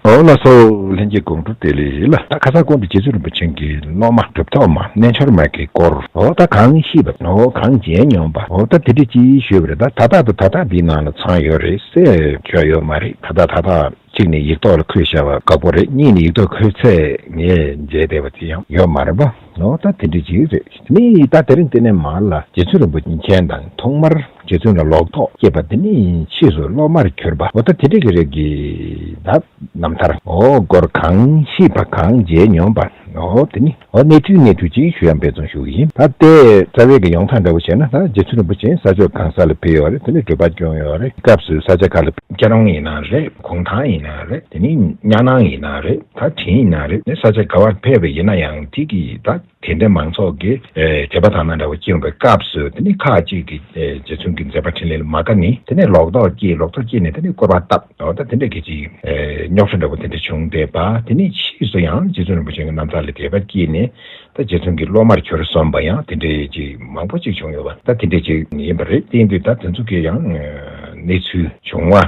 འོ་ལ་སོགས་ལྷན་སྐྱེས་དགོངས་དྲོ་དེ་ལས་ལ། ད་ཁ་སང་དགོངས་འདི་རྗེ་བཙུན་རིན་པོ་ཆེན་གྱི་སློབ་མ་གྲུབ་ཐོབ་མ་རྣལ་འབྱོར་མ་གིས་བསྐོར། འོ་ད་གང་ཤེས་པ། འོ་གང་མཇལ་མྱོང་པ། འོ་ད་དེ་འདྲས་ཅི་ཞུས་པ་རེད་ད་ད་ལྟ་དང་ད་ལྟ་འདིའི་ནང་ལ་ཚང་ཡོད་རེད་སེ་ཆོག་ཡོད་མ་རེད་ད་ལྟ་ད་ལྟ་གཅིག་ནས་ཡིག་ཐོག་ལ་འཁོད་ཤ་བ་དགའ་པོ་རེད་གཉིས་ནས་ཡིག་ཐོག་འཁོད་ཚད་ངས་མཇལ་བདེ་བ་དེ་ཡང་ཡོད་མ་རེད་པ། ལོག་ལྟ་དེ་འདྲ་ཅིག་རེད། མི་ཡིས་ད་དེར་འདི་ནས་མར་ལ་རྗེ་བཙུན་རིན་པོ་ཆེ་མཁྱེན་དང་ཐོག་མར་རྗེ་བཙུན་ལ་ལོག་རྟོག་སྐྱེས་པ་འདི་ནི་ཕྱིས་སུ་སློབ་མར་གྱུར་པ་ལོག་ལྟ་དེ་འདྲ་གི་རིགས་ཀྱི་བདག་རྣམས་ཐར་འོ་སྐོར་གང་ཤེས་པ་གང་མཇལ་མྱོང་པ་འོ་དེ་ནི་འོ་གནས་ཚུལ་གནས་ཚུལ་ཅིག་ཞུ་ཡང་འབད་བརྩོན་ཞུ་གི་ཡིན་ད་ལྟའི་རྩ་བའི་གི་ཡོང་ཐང་འདྲ་བོ་བྱས་ན་ད་རྗེ་བཙུན་རིན་པོ་ཆེ་ས་ཕྱོགས་གང་ས་ལ་ཕེབས་ཡོད་རེད་དེ་ནས་བགྲོད་པ་བསྐྱོང་ཡོད་རེད་སྐབས་སུ་ས་ཆ་ག་ལ། སྐྱ་རོང་ཡིན་ན་རེད་གུང་ཐང་ཡིན་ན་རེད་དེ་ནས་གཉའ་ནང་ཡིན་ན་རེད། ད་དེ་ཡིན་ན་རེད་ནས་ས་ཆ་ག་བར་ཕེབས་པ་ཡིན་ན་ཡང་ཐིག་གི་ད་དེ་འདྲ་མང་ཚོགས་ཀྱི་དད་པ་དང་ན་འདྲ་བ་སྐྱེ་འོང་པའི་སྐབས་སུ་དེ་ནས་ཁ་ཅིག་གི་རྗེ་བཙུན་གྱི་མཛད་པ་འཕྲིན་ལས་ལ་མ་དགའ་ནས་དེ་ནས་ལོག་རྟོག་སྐྱེས་ལོག་རྟོག་སྐྱེས་ནས་དེ་ནས་བསྐོར་བ་བཏབ་འོ་ད་དེ་འདྲ་གི་ཅིག་རྙོག་ཁྲ་འདྲ་བོ་དེ་འདྲ་བྱུང་བསྡད་པ་དེ་ནས་ཕྱིས་སུ་ཡང་རྗེ་བཙུན་རིན་པོ་ཆེན་གྱི་རྣམ་ཐར་ལས་དད་པ་སྐྱེས་ནས་ད་རྗེ་བཙུན་གྱི་སློབ་མར་གྱུར་སོང་བ་ཡང་དེ་འདྲ་ཅིག་མང་པོ་ཅིག་བྱུང་ཡོད་པ་ད་དེ་འདྲ་ཅིག་ཡིན་པ་རེད་བསྟན་དུས་ད་དེ་ཚོ་གི་ཡང་གནས་ཚུལ་བྱུང་བ།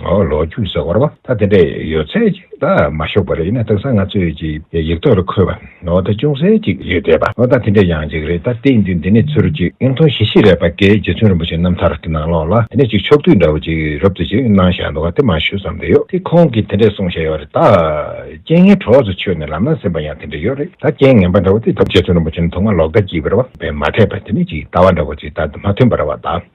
ལོ་རྒྱུས་ཟེར་བར་བ་ད་དེ་འདྲས་ཡོད་ཚད་ཅིག་ད་མ་ཤོག་པ་རེད་ན་དེང་སང་ང་ཚོས་ཀྱིས་ཡིག་ཐོག་རུ་འཁོད་པ་ད་ཅུང་ཟད་ཅིག་ཡོད་བསྡད་པ་ད་དེ་འདྲས་ཡང་ཅིག་རེད་ད་དེ་འདི་ནས་ཚུར་ཅིག་ཨིན་ཐོ་ཞི་ཤི་རས་པ་ཀའི་རྗེ་བཙུན་རིན་པོ་ཆེ་རྣམ་ཐར་གྱི་ནང་ལོགས་ལ་དེ་ནས་ཅིག་ཕྱོགས་བསྡུས་འདྲ་བོ་ཅིག་རབ་ཏུ་ཅིག་གནང་བཞག་འདུག་ག་དེ་མ་ཞུས་ཙམ་དེ་ཡོད་དེ་ཁོང་གིས་དེ་འདྲས་གསུངས་བཞག་ཡོད་རེད་ད། རྐྱེན་ངན་གྲོགས་སུ་ཆོད་ནས་ལམ་ན་ཟིན་པ་ཡང་དེ་འདྲས་ཡོད་རེད་ད་རྐྱེན་ངན་པ་འདྲ་བོ་དེ་ད་རྗེ་བཙུན་རིན་པོ་ཆེ་ནི་ཐོག་མ་ལོག་ལྟ་གྱིས་པར་བ་བས་མ་འཐད་པ་དེ་ནས་ཅིག་ལྟ་བ་འདྲ་བོ་ཅིག་ད་མ་ཐོན་པར་བ་ད།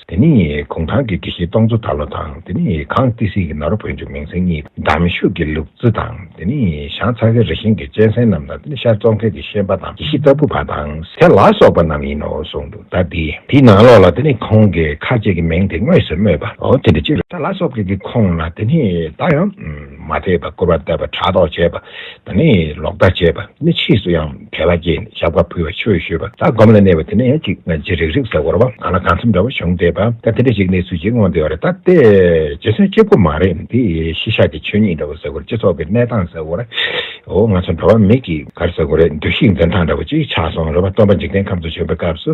དེ་ནི་གུང་ཐང་གི་དྲི་ཞིམ་སྟོང་མཚོ་ད་ལོ་དང་དེ་ནི་གངས་ཏི་སེའི་ནོར་བུ་བོད་འབྱུང་མིང་སྲིང་གཉིས་འདམ་ཤུགས་ཀྱི་ལུག་རྫི་དང་དེ་ནི་ཞང་ཚ་ཁའི་རི་ཤིང་གི་གཅན་གཟན་རྣམས་དང་དེ་ནི་ཤར་ཙོང་ཁའི་དེ་ཤན་པ་དང་དེ་ཤི་ལྟ་བུ་བ་དང་ཟས་ལ་སོགས་པ་རྣམས་ཡིན་ནོ་གསུངས་འདུག་ད་དེ་དེའི་ནང་ལོགས་ལ་དེ་ནི་ཁོང་གི་ཁ་ཆེ་གི་མིང་དེ་དངོས་སུ་སྨོས་པའོ་དེ་འདྲ་ཅིག་རེད་ད་ལ་སོགས་ཀྱི་དེ་ཁོངས་ན་དེ་ནི་ད་ཡང། མ་ཚད་པར་སྐུར་བ་བཏབ་པ་ཕྲག་དོག་བྱས་པ་དང་ནི་ལོག་ལྟ་བྱས་པ་ནི་ཕྱིས་སུ་ཡང་དད་པ་སྐྱེས་ནས་ཞབས་ཀ་ཕུལ་བ་ཆོས་ཞུས་པ་ལྟར་སྒོམ་ལ་གནས་པ་དེ་ནི་ཡང་ཅིག་ཅི་རིགས་རིགས་སུ་འཁོར་བ་གང་ལ་གང་འཚམ་འདྲ་བ་བྱུང་བསྡད་པ་ད་དེ་འདྲ་ཞིག་གནས་ཚུལ་ཅིག་མངོན་བསྡད་པ་རེད་ད་ལྟའི་རྗེ་བཙུན་གཅིག་པོ་མ་རེད་འདི་ཤི་ཤ་གི་ཆོས་ཉིད་འདྲ་བོ་ཟེར་དགོས་རེད་སྤྱི་ཚོགས་ཀྱི་གནས་སྟངས་ཟེར་དགོས་རེད་འོ་ང་ཚོ་འགྲོ་བ་མི་གི་གར་ཟེར་དགོས་རེད་འདུ་ཤེས་འཛིན་སྟངས་འདྲ་བོ་ཅིག་ཆགས་སོང་རེད་བ་སྟོན་པ་འཇིག་རྟེན་ཁམས་སུ་བྱོན་པའི་སྐབས་སུ།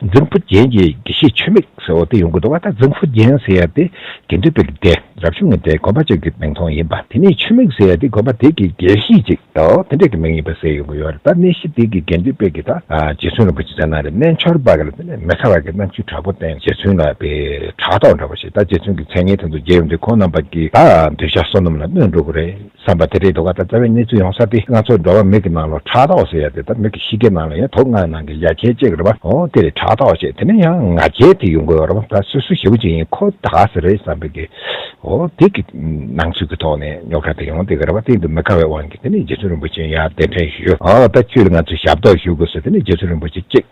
རྫིང་བུ་རྒྱན་གྱི་དགེ་བཤེས་ཆུ་མིག་ཟེར་བ་དེ་ཡོང་གི་འདུག་བ་ད་རྫིང་བུ་རྒྱན་ཟེར་ཡ་དེ་དགེ་འདུན་པའི་སྡེ་རབ་བྱུང་གི་འདྲའི་དགོན་པ་གཅིག་གི་མིང་ཐོང་ཡིན་པ་དེ་ནས་ཆུ་མིག་ཟེར་ཡ་དེ་དགོན་པ་དེ་གི་དགེ་བཤེས་གཅིག་དེ་འདྲ་གི་མིང་ཡིན་པ་ཟེར་ཡོང་གི་ཡོད་རེད་ད་གནས་གཞི་དེ་གི་དགེ་འདུན་པའི་གི་ད་རྗེ་བཙུན་རིན་པོ་ཆེ་ཚེ་ན་རེ་གནས་འཆོར་བ་གི་ལ་དེ་ནས་མི་ཚ་བ་གི་རྣམ་ཤེས་དྲག་པོ་བསྟན་རྗེ་བཙུན་ལ་པའི་དྲག་ཐོག་འདྲ་བ་ཞིག་ད་རྗེ་བཙུན་གི་མཚན་སྙན་དེ་ཚོ་རྒྱས་ཡོང་དུས་ཁོང་རྣམ་པ་གི་ད་འདོད་ཆགས་བསོད་ནམས་ལ་གནོད་འགྲོ་གི་རེད། བསམ་པ་དེ་རེད་འདུག་ད་རྩ་བའི་གནས་ཚུལ་ཡོང་ས་དེ་ང་ཚོ་འགྲོ་བ་མིག་གི་ནང་ལོ་ཁྲག་ལྟ་བ་ཟེར་ཡ་དེ་ད་མིག་གི་གཤིས་ཀའི་ནང་ལ་ཡང་དོག་ངའི་ནང་གི་ཡ་གྱལ་ཅེས་རེད་པ་ཨོ་དེ་རེད་ཁྲག་ལྟ་བ་ཞེས་དེ་ནས་ཡང་ང་རྒྱལ་དེ་ཡོང་དགོས་ཡོད་རེད་པ་ད་སོ་སོའི་ཞེ་བོ་ཅིག་ཡིན་ཁོ་ད་ག་ཟེ་རེད་བསམ་པའི་གི་ཨོ་དེ་གི་སྣང་ཚུལ་གི་ཐོག་ནས་རྙོག་ཁྲ་དེ་ཡོང་སྡད་གི་རེད་པ་དེ་འདུག་མི་དགའ་བའི་དབང་གིས་དེ་ནས་རྗེ་བཙུན་རིན་པོ་ཆེ་ཡང་གདན་འདྲེན་ཞུ་ཨོ་ད་ཁྱོད་ལ་ང་ཚོས་ཞབས་ཏོག་ཞུ་དགོས་ཟེར་དེ་ནས་རྗེ་བཙུན་རིན་པོ་ཆེ་གཅིག།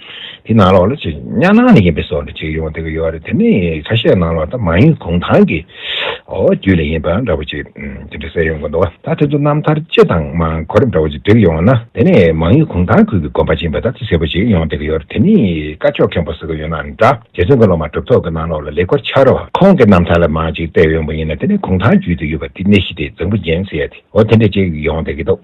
དེ་ནང་ལོགས་ལ་ཅིག་གཉའ་ནང་ནས་ཡིན་པའི་སོགས་ལ་ཅིག་ཡོང་དེ་ག་ཡོད་རེད་དེ་ནི་ཁ་ཤས་ནང་ལོགས་ད་མ་ཡིན་གུང་ཐང་གི་རྒྱུད་ལས་ཡིན་པ་འདྲ་བོ་ཅིག་དེ་འདྲ་གསལ་ཡོང་གི་འདུག་ད་དེ་ཚོ་རྣམ་ཐར་སྤྱི་དང་མ་འཁོར་འདྲ་བོ་ཅིག་བསྒྲིགས་ཡོང་ན་དེ་ནི་མ་ཡིན་གུང་ཐང་ཁུལ་གྱི་དགོན་པ་ཅིག་ཡིན་པ་ད་ཅིག་གསལ་པོ་ཅིག་ཡོང་དེ་ག་ཡོད་རེད་དེ་ནི་བཀའ་ཆོས་མཁན་པོ་ཟེར་གི་ཡོད་ན་འདྲ་རྗེ་བཙུན་གྱི་སློབ་མ་གྲུབ་ཐོབ་ཀྱི་ནང་ལོགས་ལ་ལེགས་པར་འཆར་རོ། ཁོང་གི་རྣམ་ཐར་ལ་མ་ཅིག་བལྟས་ཡོང་པ་ཡིན་ན་དེ་ནི་གུང་ཐང་རྒྱུད་དུ་ཡོད་པ་དེ་གནས་གཞི་དེ་རྫིང་བུ་རྒྱན་ཟེར་ཡ་དེ་འོ་དེ་འདྲ་ཅིག་ཡོང་དེ་གི་འདུག།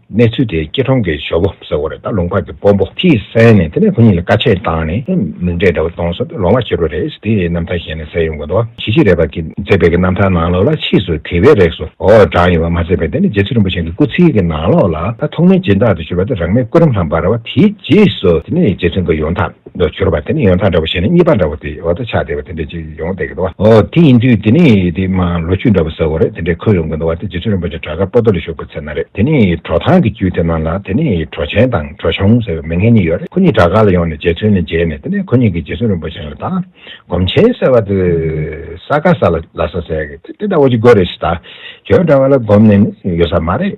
གནས་ཚུལ་དེ་སྐྱིད་གྲོང་གི་ཞོ་པོ་ཟེར་བ་རེད་ད་ལུང་པ་གི་སྤོ་འབོ་ཁྱིས་གསན་ནས་དེ་ནས་ཁོ་གཉིས་ལ་བཀའ་ཆད་བཏང་ནས་མིང་འབྲས་འདྲ་བོ་གཏོང་སོང་སྟེ་ལོང་བ་ཁྱི་རོ་རེད་ཟེར་དེའི་རྣམ་ཐར་གཞན་ནས་གསལ་ཡོང་དགོས་འདུག་གཞི་གཅིག་རེད་པ་གི་མཛད་པའི་གི་རྣམ་ཐར་ནང་ལོགས་ལ་ཕྱིས་སུ་དེ་བས་རེག་སོ་འོ་བགྲང་ཡོད་པ་མ་ཟད་པའི་དེ་ནས་རྗེ་བཙུན་རིན་པོ་ཆེན་གྱི་སྐུ་ཚེའི་གི་ནང་ལོགས་ལ་ད་ཐོག་མའི་སྦྱིན་བདག་ཏུ་གྱུར་པ་དེ་རང་མའི་སྐུ་རིམ་ལྷམ་འབར་བ་དེའི་རྗེས་སུ་དེ་ནས་རྗེ་བཙུན་གྱི་ཡོང་ཐབས། དུ་གྱུར་པ་དེ་ནི་ཡོན་ཐང་འདྲ་བོ་ཞེས་ནི་གཉིས་པ་འདྲ་བོ་དེའི་འོག་ཏུ་ཆགས་བསྡད་པ་དེ་འདྲའི་ཅིག་ཡོང་བསྡད་ཀྱི་འདུག་བ། འོ་དེ་ཡིན་དུས་དེ་ནི་དེ་མ་ལོ་བཅུ་འདྲ་བོ་ཟེར་བ་རེད་དེ་འདྲའི་འཁོད་ཡོང་གི་འདུག་བ་དེ་རྗེ་བཙུན་རིན་པོ་ཆེ་བྲག་དཀར་སྤོ་ཏོ་ལ་བཞུགས་པའི་ཚེ་ན་རེད་དེ་ནི་གྲོ་ཐང་གི་རྒྱུད་དེ་ན་ལ་དེ་ནི་གྲོ་ཆེན་དང་གྲོ་ཆུང་ཟེར་བའི་མི་ངན་གཉིས་ཡོད་རེད་ཁོ་གཉིས་བྲག་དཀར་ལ་ཡོང་ནས་རྗེ་བཙུན་ལ་མཇལ་ནས་དེ་ནས་ཁོ་གཉིས་ཀྱིས་རྗེ་བཙུན་རིན་པོ་ཆེ་ལ་ད་སྒོམ་ཆེན་ཟེར་བ་དེ་ས་ག་ས་ལ་ལ་ས་ཟེར་གི་དེ་དེ་འདྲ་བོ་ཅིག་དགོས་རེད་ཞེས་ད་གྱོད་འདྲ་བ་ལ་སྒོམ་ནས་ནི་ཡོད་ས་མ་རེད།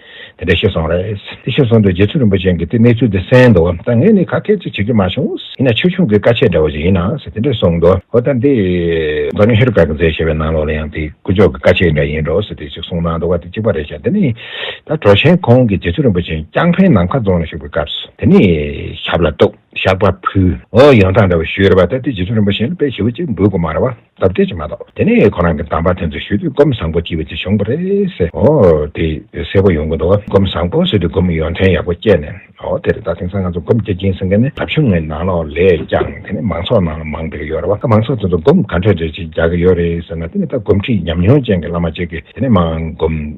དེ་འདྲ་ཤེས་སོང་རེད། དེ་ཤེས་སོང་དུས་རྗེ་བཙུན་རིན་པོ་ཆེན་གྱིས་དེ་གནས་ཚུལ་དེ་གསན་འདུག་ད་ངས་ནི་ཁ་སྐད་ཅིག་བྱེད་ཀྱི་མ་བྱུང། ཡིན་ན་ཆོས་ཆུང་གི་བཀའ་ཆད་འདྲ་བ་ཞིག་ཡིན། དེ་འདྲ་གསུངས་འདུག་ཨོ་ད་འདི། མཛོ་ངན་ཧེ་རུ་ཀ་གི་མཛད་ཞེས་པའི་ནང་ལོགས་ལ་ཡང་དེ་དཀོན་མཆོག་གི་བཀའ་ཆད་འདྲ་ཡིན་འགྲོ་ཟེར་དེ་ཅིག་གསུངས་གནང་འདུག་དེ་གཅིག་པ་རེད་ཤག་དེ་ནི། ད་གྲོ་ཆེན་ཁོང་གིས་རྗེ་བཙུན་རིན་པོ་ཆེན་རྐྱང་འཕེན་ནམ་མཁའ་རྫོང་ལ་ཞུགས་པའི་སྐབས་སུ་དེ་ནི་ཞབས་ལ་གཏུགས། ཞགས་པ་ཕུལ། ཡོང་སྟངས་འདྲ་བ་ཞུས་རེད་པ་ད་དེ་རྗེ་བཙུན་རིན་པོ་ཆེན་ལ་དཔེ་ཞིབ་བོ་ཅིག་འབུལ་དགོས་མ་རེད་བ། ཟབ་གཏེར་གྱི་མ་གཏོགས་དེ་ནས་ཁོ་རང་གི་གདམས་པ་དེ་ཚོ་ཞུས་དུས་སྒོམ་བཟང་པོ་སྐྱེས་པའི་ཚེ་བྱུང་བ་རེད་ཟེར། འོ་དེ་གསལ་པོ་ཡོང་གི་འདུག་སྒོམ་བཟང་པོ་ཟེར་དུས་སྒོམ་ཡོན་ཏན་ཡག་པོ་སྐྱེས་ནས་འོ་དེར་ད་དེང་སང་ང་ཚོ་སྒོམ་རྒྱག་གིན་སེང་གེ་ནི་འདབ་ཆུང་ངའི་ནང་ལོགས་ལས་ཀྱང་དེ་ནི་མང་ཚོགས་ནང་ལ་མང་འདུག་གི་ཡོད་རེད་བ་ད་མང་ཚོགས་དེ་ཚོ་སྒོམ་ག་འཕྲོད་འདོད་ཅིག་རྒྱག་གི་ཡོད་རེད་ཟེར་ན་དེ་ནི་ད་སྒོམ་ཁྲིད་ཉམས་མྱོང་ཅན་གྱི་བླ་མ་གཅིག་གིས་དེ་ནི་མང་སྒོམ་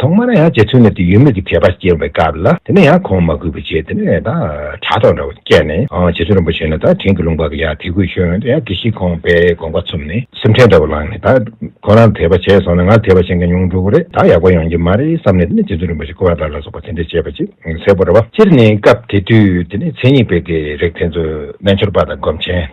ཐོག་མར་ཡང་རྗེ་བཙུན་ལ་དུས་ཡོད་མེད་ཀྱི་དད་པ་སྐྱེ་བའི་སྐབས་ལ་དེ་ནས་ཡང་གོང་མ་གུས་པའི་རྗེས་དེ་ནས་ད་དྲ་ཐོག་འདྲ་བ་བསྐྱལ་ནས་རྗེ་བཙུན་རིན་པོ་ཆེ་ལ་ད་དྲིན་གྱི་ལུང་པར་ཡང་དད་གུས་ཞུས་འོན་ཡང་དེ་བཞིན་ཁོང་པས་དགོངས་པ་ཚུམས་ནས་སེམས་ཁྲལ་འདྲ་བོ་ལངས་ནས་ད་ཁོ་རང་དད་པ་བྱས་སོང་ན་ང་ལ་དད་པ་བྱེད་མཁན་ཉུང་འགྲོ་གི་རེད་ད་ཡག་པོ་ཡོང་གྱི་མ་རེད་བསམ་ནས་དེ་ནས་རྗེ་བཙུན་རིན་པོ་ཆེ་ཀུ་བ་ལ་ལ་སོགས་པ་དེ་འདྲས་བྱས་པ་ཅིག་གསལ་པོ་འདྲ་བ་སྤྱིར་ནི་སྐབས་དེ་དུས་དེ་ནས་མཚན་ཉིད་དཔེ་དེ་རེག་དེ་ཚོ་རྣལ་འབྱོར་པ་དང་སྒོམ་ཆེན།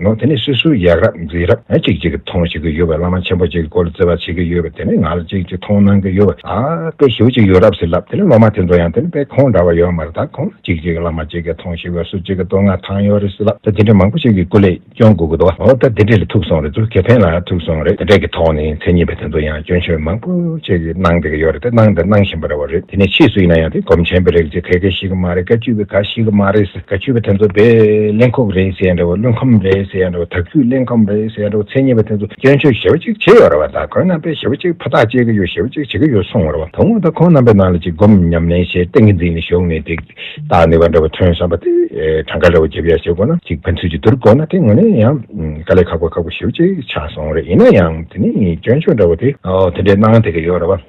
ངོ་དེ་ནས་སུས་སུ་ཡག་རབ་འཛིན་རབ་ང་གཅིག་གཅིག་གི་མཐོང་བྱེད་ཀྱི་ཡོད་པ་བླ་མ་ཆེན་པོ་གཅིག་གི་སྐོར་བརྩི་བ་བྱེད་ཀྱི་ཡོད་པ་དེ་ནས་ང་ལ་གཅིག་གཅིག་མཐོང་གནང་གི་ཡོད་པ་ད་དཔེ་ཞིབ་གཅིག་ཡོད་རབ་ཟེར་ལབ་དེ་ནས་སློབ་མ་དེ་ཚོ་ཡང་དེ་ནས་དཔེ་ཁོང་འདྲ་བ་ཡོད་མ་རེད་ད་ཁོང་ལ་གཅིག་གཅིག་བླ་མ་གཅིག་གི་མཐོང་བྱེད་ཀྱི་སུ་གཅིག་གི་བསྟོད་བསྔགས་ཐང་ཡོད་རེད་ཟེར་ལབ་ད་དེ་འདྲ་མང་པོ་ཞིག་གི་སྐུ་ལས་སྐྱོན་དགོས་ཀྱི་འདུག་བ་འོ་ད་དེ་འདྲས་ལ་ཐུག་སོང་རེད་ཚུར་ཁེ་ཕན་ལ་ཐུག་སོང་རེད་དེ་འདྲས་ཀྱི་ཐོག་ནས་མཚན་ཉིད་པ་དེ་ཚོ་ཡང་སྐྱོན་ཆོས་མང་པོ་ཞིག་གི་གནང་བསྡད་ཀྱི་ཡོད་རེད་དེ་གནང་དང་གནང་བཞིན་པ་རེད་བ་རེད་དེ་ནས་ཕྱིས་སུ་ཡིན་ན་ཡང་དེ་སྒོམ་ཆེན་པོའི་རིགས་གཅིག་ག་གེ་ཞིག་གི་མ་རེད་ག་གཅིག་པའི་ག་ཞིག་གི་མ་རེད། དགའ་སྐྱོ་བ་དེ་ཚོ་བེད་གླེང་ཁོག་རེད་ཟེར་ཡ་འདྲ་བོ་བླུན་ཁམས་རེད་ཟེར་ཡ་འདྲ་བོ་དག་རྒྱུས་གླེང་ཁམས་རེད་ཟེར་ཡ་འདྲ་བོ་མཚན་ཉིད་པ་དེ་ཚོ་སྐྱོན་བརྗོད་ཞེ་བོ་གཅིག་བྱེད་ཡོད་ར་བ་དང་ཁོང་རྣམ་པས་ཞེ་བོ་གཅིག་ཕ་ཐག་གཅད་གི་ཡོད་ཞེ་བོ་གཅིག་བྱེད་གི་ཡོད་སོང་བ་ར་བ་དང་ངོ་ད་ཁོང་རྣམ་པའི་ནང་ལ་གཅིག་སྒོམ་ཉམས་ལེན་བྱེད་གཏན་གི་འཛིན་ནི་ཞོག་ནས་དེ་བཏགས་ནི་བ་འདྲ་བོ་ཐོན་བསམ་པ་དེ་གྲངས་ཀ་འདྲ་བོ་བརྒྱབ་ཡ་བྱེད་དགོས་ན་གཅིག་ཕན་ཚུན་གྱི་བསྡུར་དགོས་ན་དེ་ངོ་ནས་ཡང་དཀའ་ལས་ཁག་པོ་ཁག་པོ་ཞེ་བོ་གཅིག་ཆགས་སོང་རེད་ཡིན་ན་ཡང་དེ་ནི་སྐྱོན་བརྗོད་འདྲ་བོ་དེ་དེ་འདྲའི་སྣང་དེ་གི་ཡོད་ར་བ།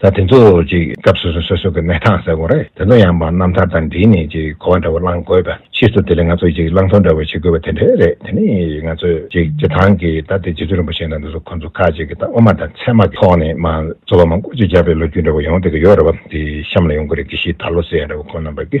ད་དེ་ཚོ་ཅིག་སྐབས་སོ་སོ་སོ་སོ་གི་གནས་སྟངས་ཟེར་དགོངས་རེད་དེ་ཚོ་ཡང་བ་རྣམ་ཐར་དང་འདྲིས་ནས་ཅིག་གོ་བ་འདྲ་བོ་བླང་དགོས་པ་ཕྱིས་སུ་དེ་ལས་ང་ཚོས་ཅིག་བླང་ཐོ་འདྲ་བོ་བྱེད་དགོས་པ་དེ་འདྲ་རེད་དེ་ནི་ང་ཚོས་ཅིག་སྤྱི་ཐང་གི་ད་ལྟའི་རྗེ་བཙུན་རིན་པོ་ཆེ་དང་འདི་ཚོ་ཁོང་ཚོ་ཁ་ཅིག་གི་ད་དབུ་མ་དང་ཚད་མ་གི་ཐོག་ནས་མ་ཚོ་བ་མང་པོ་ཅིག་བརྒྱབ་པའི་ལོ་རྒྱུས་འདྲ་བོ་ཡང་དེ་གི་ཡོད་རེད་བ་དེ་གཤམ་ལ་ཡོང་གི་རེད་གི་ཞེས་ད་ལོ་ཟེར་ཡ་འདྲ་བོ་ཁོང་རྣམ་པ་གི།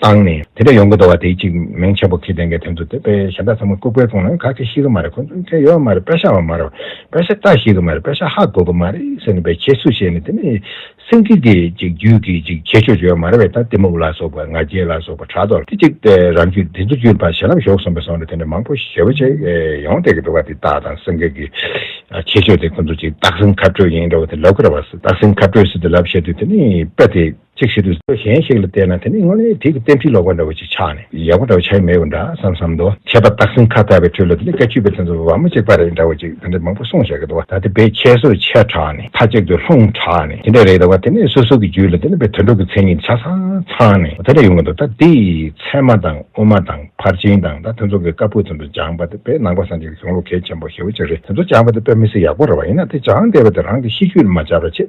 བཏང་ནས། དེ་འདྲ་ཡོང་གི་འདུག་བ་དེ་གཅིག་མིང་ཆེན་པོ་ཁས་ལེན་མཁན་དེ་ཚོ་དེ་པའི་ཞབས་ཏག་ཚ་མོ་ལྐུག་པའི་དཔུང་ན་ག་གེ་ཤི་གི་མ་རེད་ཁོ་ཚོ་མཁན་ཡོད་བ་མ་རེད་པད་ཤ་བ་མ་རེད་པད་ཤ་ལྟ་ཤེས་གི་མ་རེད་པད་ཤ་ཧ་གོ་གི་མ་རེད་ཟེར་ནས་པའི་ཁྱད་གསོད་བྱས་ནས་དེ་ནས་སེམས་ཁྲིད་དེ་གཅིག་རྒྱུད་ཀྱི་གཅིག་ཁྱད་ཆོས་བྱོས་བ་མ་རེད་བས་ད་གཏི་མུག་ལ་སོགས་པ་ང་རྒྱལ་ལ་སོགས་པ་དྲག་དོག་དེ་གཅིག་པའི་རང་རྒྱུད་དེ་ཚོ་རྒྱུད་པ་ཞེ་ལམ་ཞོག་སོང་པའི་སོང་ནས་དེ་འདྲ་མང་པོ་ཞེ་བོ་ཅིག་ཡོང་བསྡད་གི་འདུག་བ་དེ་ལྟ་དང་སེམས་ཁྲིད་ཀྱི་ཁྱད་ཆོས་དེ་ཁོ་ཚོ་གཅིག་སྟག་སེང་ཁ་སྤྲོད་ཡིན་འདྲ་བ་དེ་ལབ་གི་རེད་བ་སྟག་སེང་ཁ་སྤྲོད་སྲིད་དུ་ལབ་བཤད་དུས་དེ་ནས་པད་དེ། ཅིག་ཞིག་ཏུ་ཆོས་གཞན་ཞིག་ལ་བལྟས་ན་དེ་ནི་སྔོན་ལས་དེའི་གཏན་ཚིགས་ལོག་པ་འདྲ་བོ་ཞིག་ཆགས་ནས་ཡག་པོ་འདྲ་བོ་ཆགས་ཀྱི་མེད་པ་འདྲ་བསམ་བསམ་དུ། ཁྱད་པར་སྟག་སེང་ཁ་བཏགས་པའི་ཁྲོད་ལ་དེ་ལས་ཀ་ཆུད་པའི་དོན་རྩོམ་པ་བ་མོ་གཅིག་པ་རེད་འདྲ་བོ་ཅིག་དེ་འདྲ་མང་པོ་གསུང་བྱ་གི་འདུག་བ་ད་དེ་བས་ཁྱད་གསོད་ཆེ་དྲགས་ནས་མཐའ་གཅིག་ཏུ་ལྷུང་དྲགས་ནས་དེ་འདྲ་རེད་ད་བ་དེ་ནས་སོ་སོ་གི་རྒྱུད་ལ་དེ་འདྲ་བའི་དོན་གྲུབ་ཀྱི་མཚན་ཉིད་ཆ་ཚང་ཚང་ནས་དེ་འདྲ་ཡོང་གི་འདུག་ད་འདི་ཚད་མ་དང་དབུ་མ་དང་ཕར་ཕྱིན་དང་ད་དེ་ཚོ་གི་བཀའ་ཕུག་དེ་ཚོ་སྦྱངས་པ་དེ་བས་ནང་པ་སངས་རྒྱས་ཀྱི་གཞུང་ལུགས་གལ་ཆེན་པོ་ཞེ་བོ་ཅིག་རེད་དེ་ཚོ་སྦྱངས་པ་དེ་བས་མི་སེར་ཡག་པོ་རེ་བ་ཡིན་ན་དེ་སྦྱངས་བསྡད་པ་དེ་རང་གི་གཤིས་རྒྱུད་ལ་མ་སྦྱར་བ་ཆེས་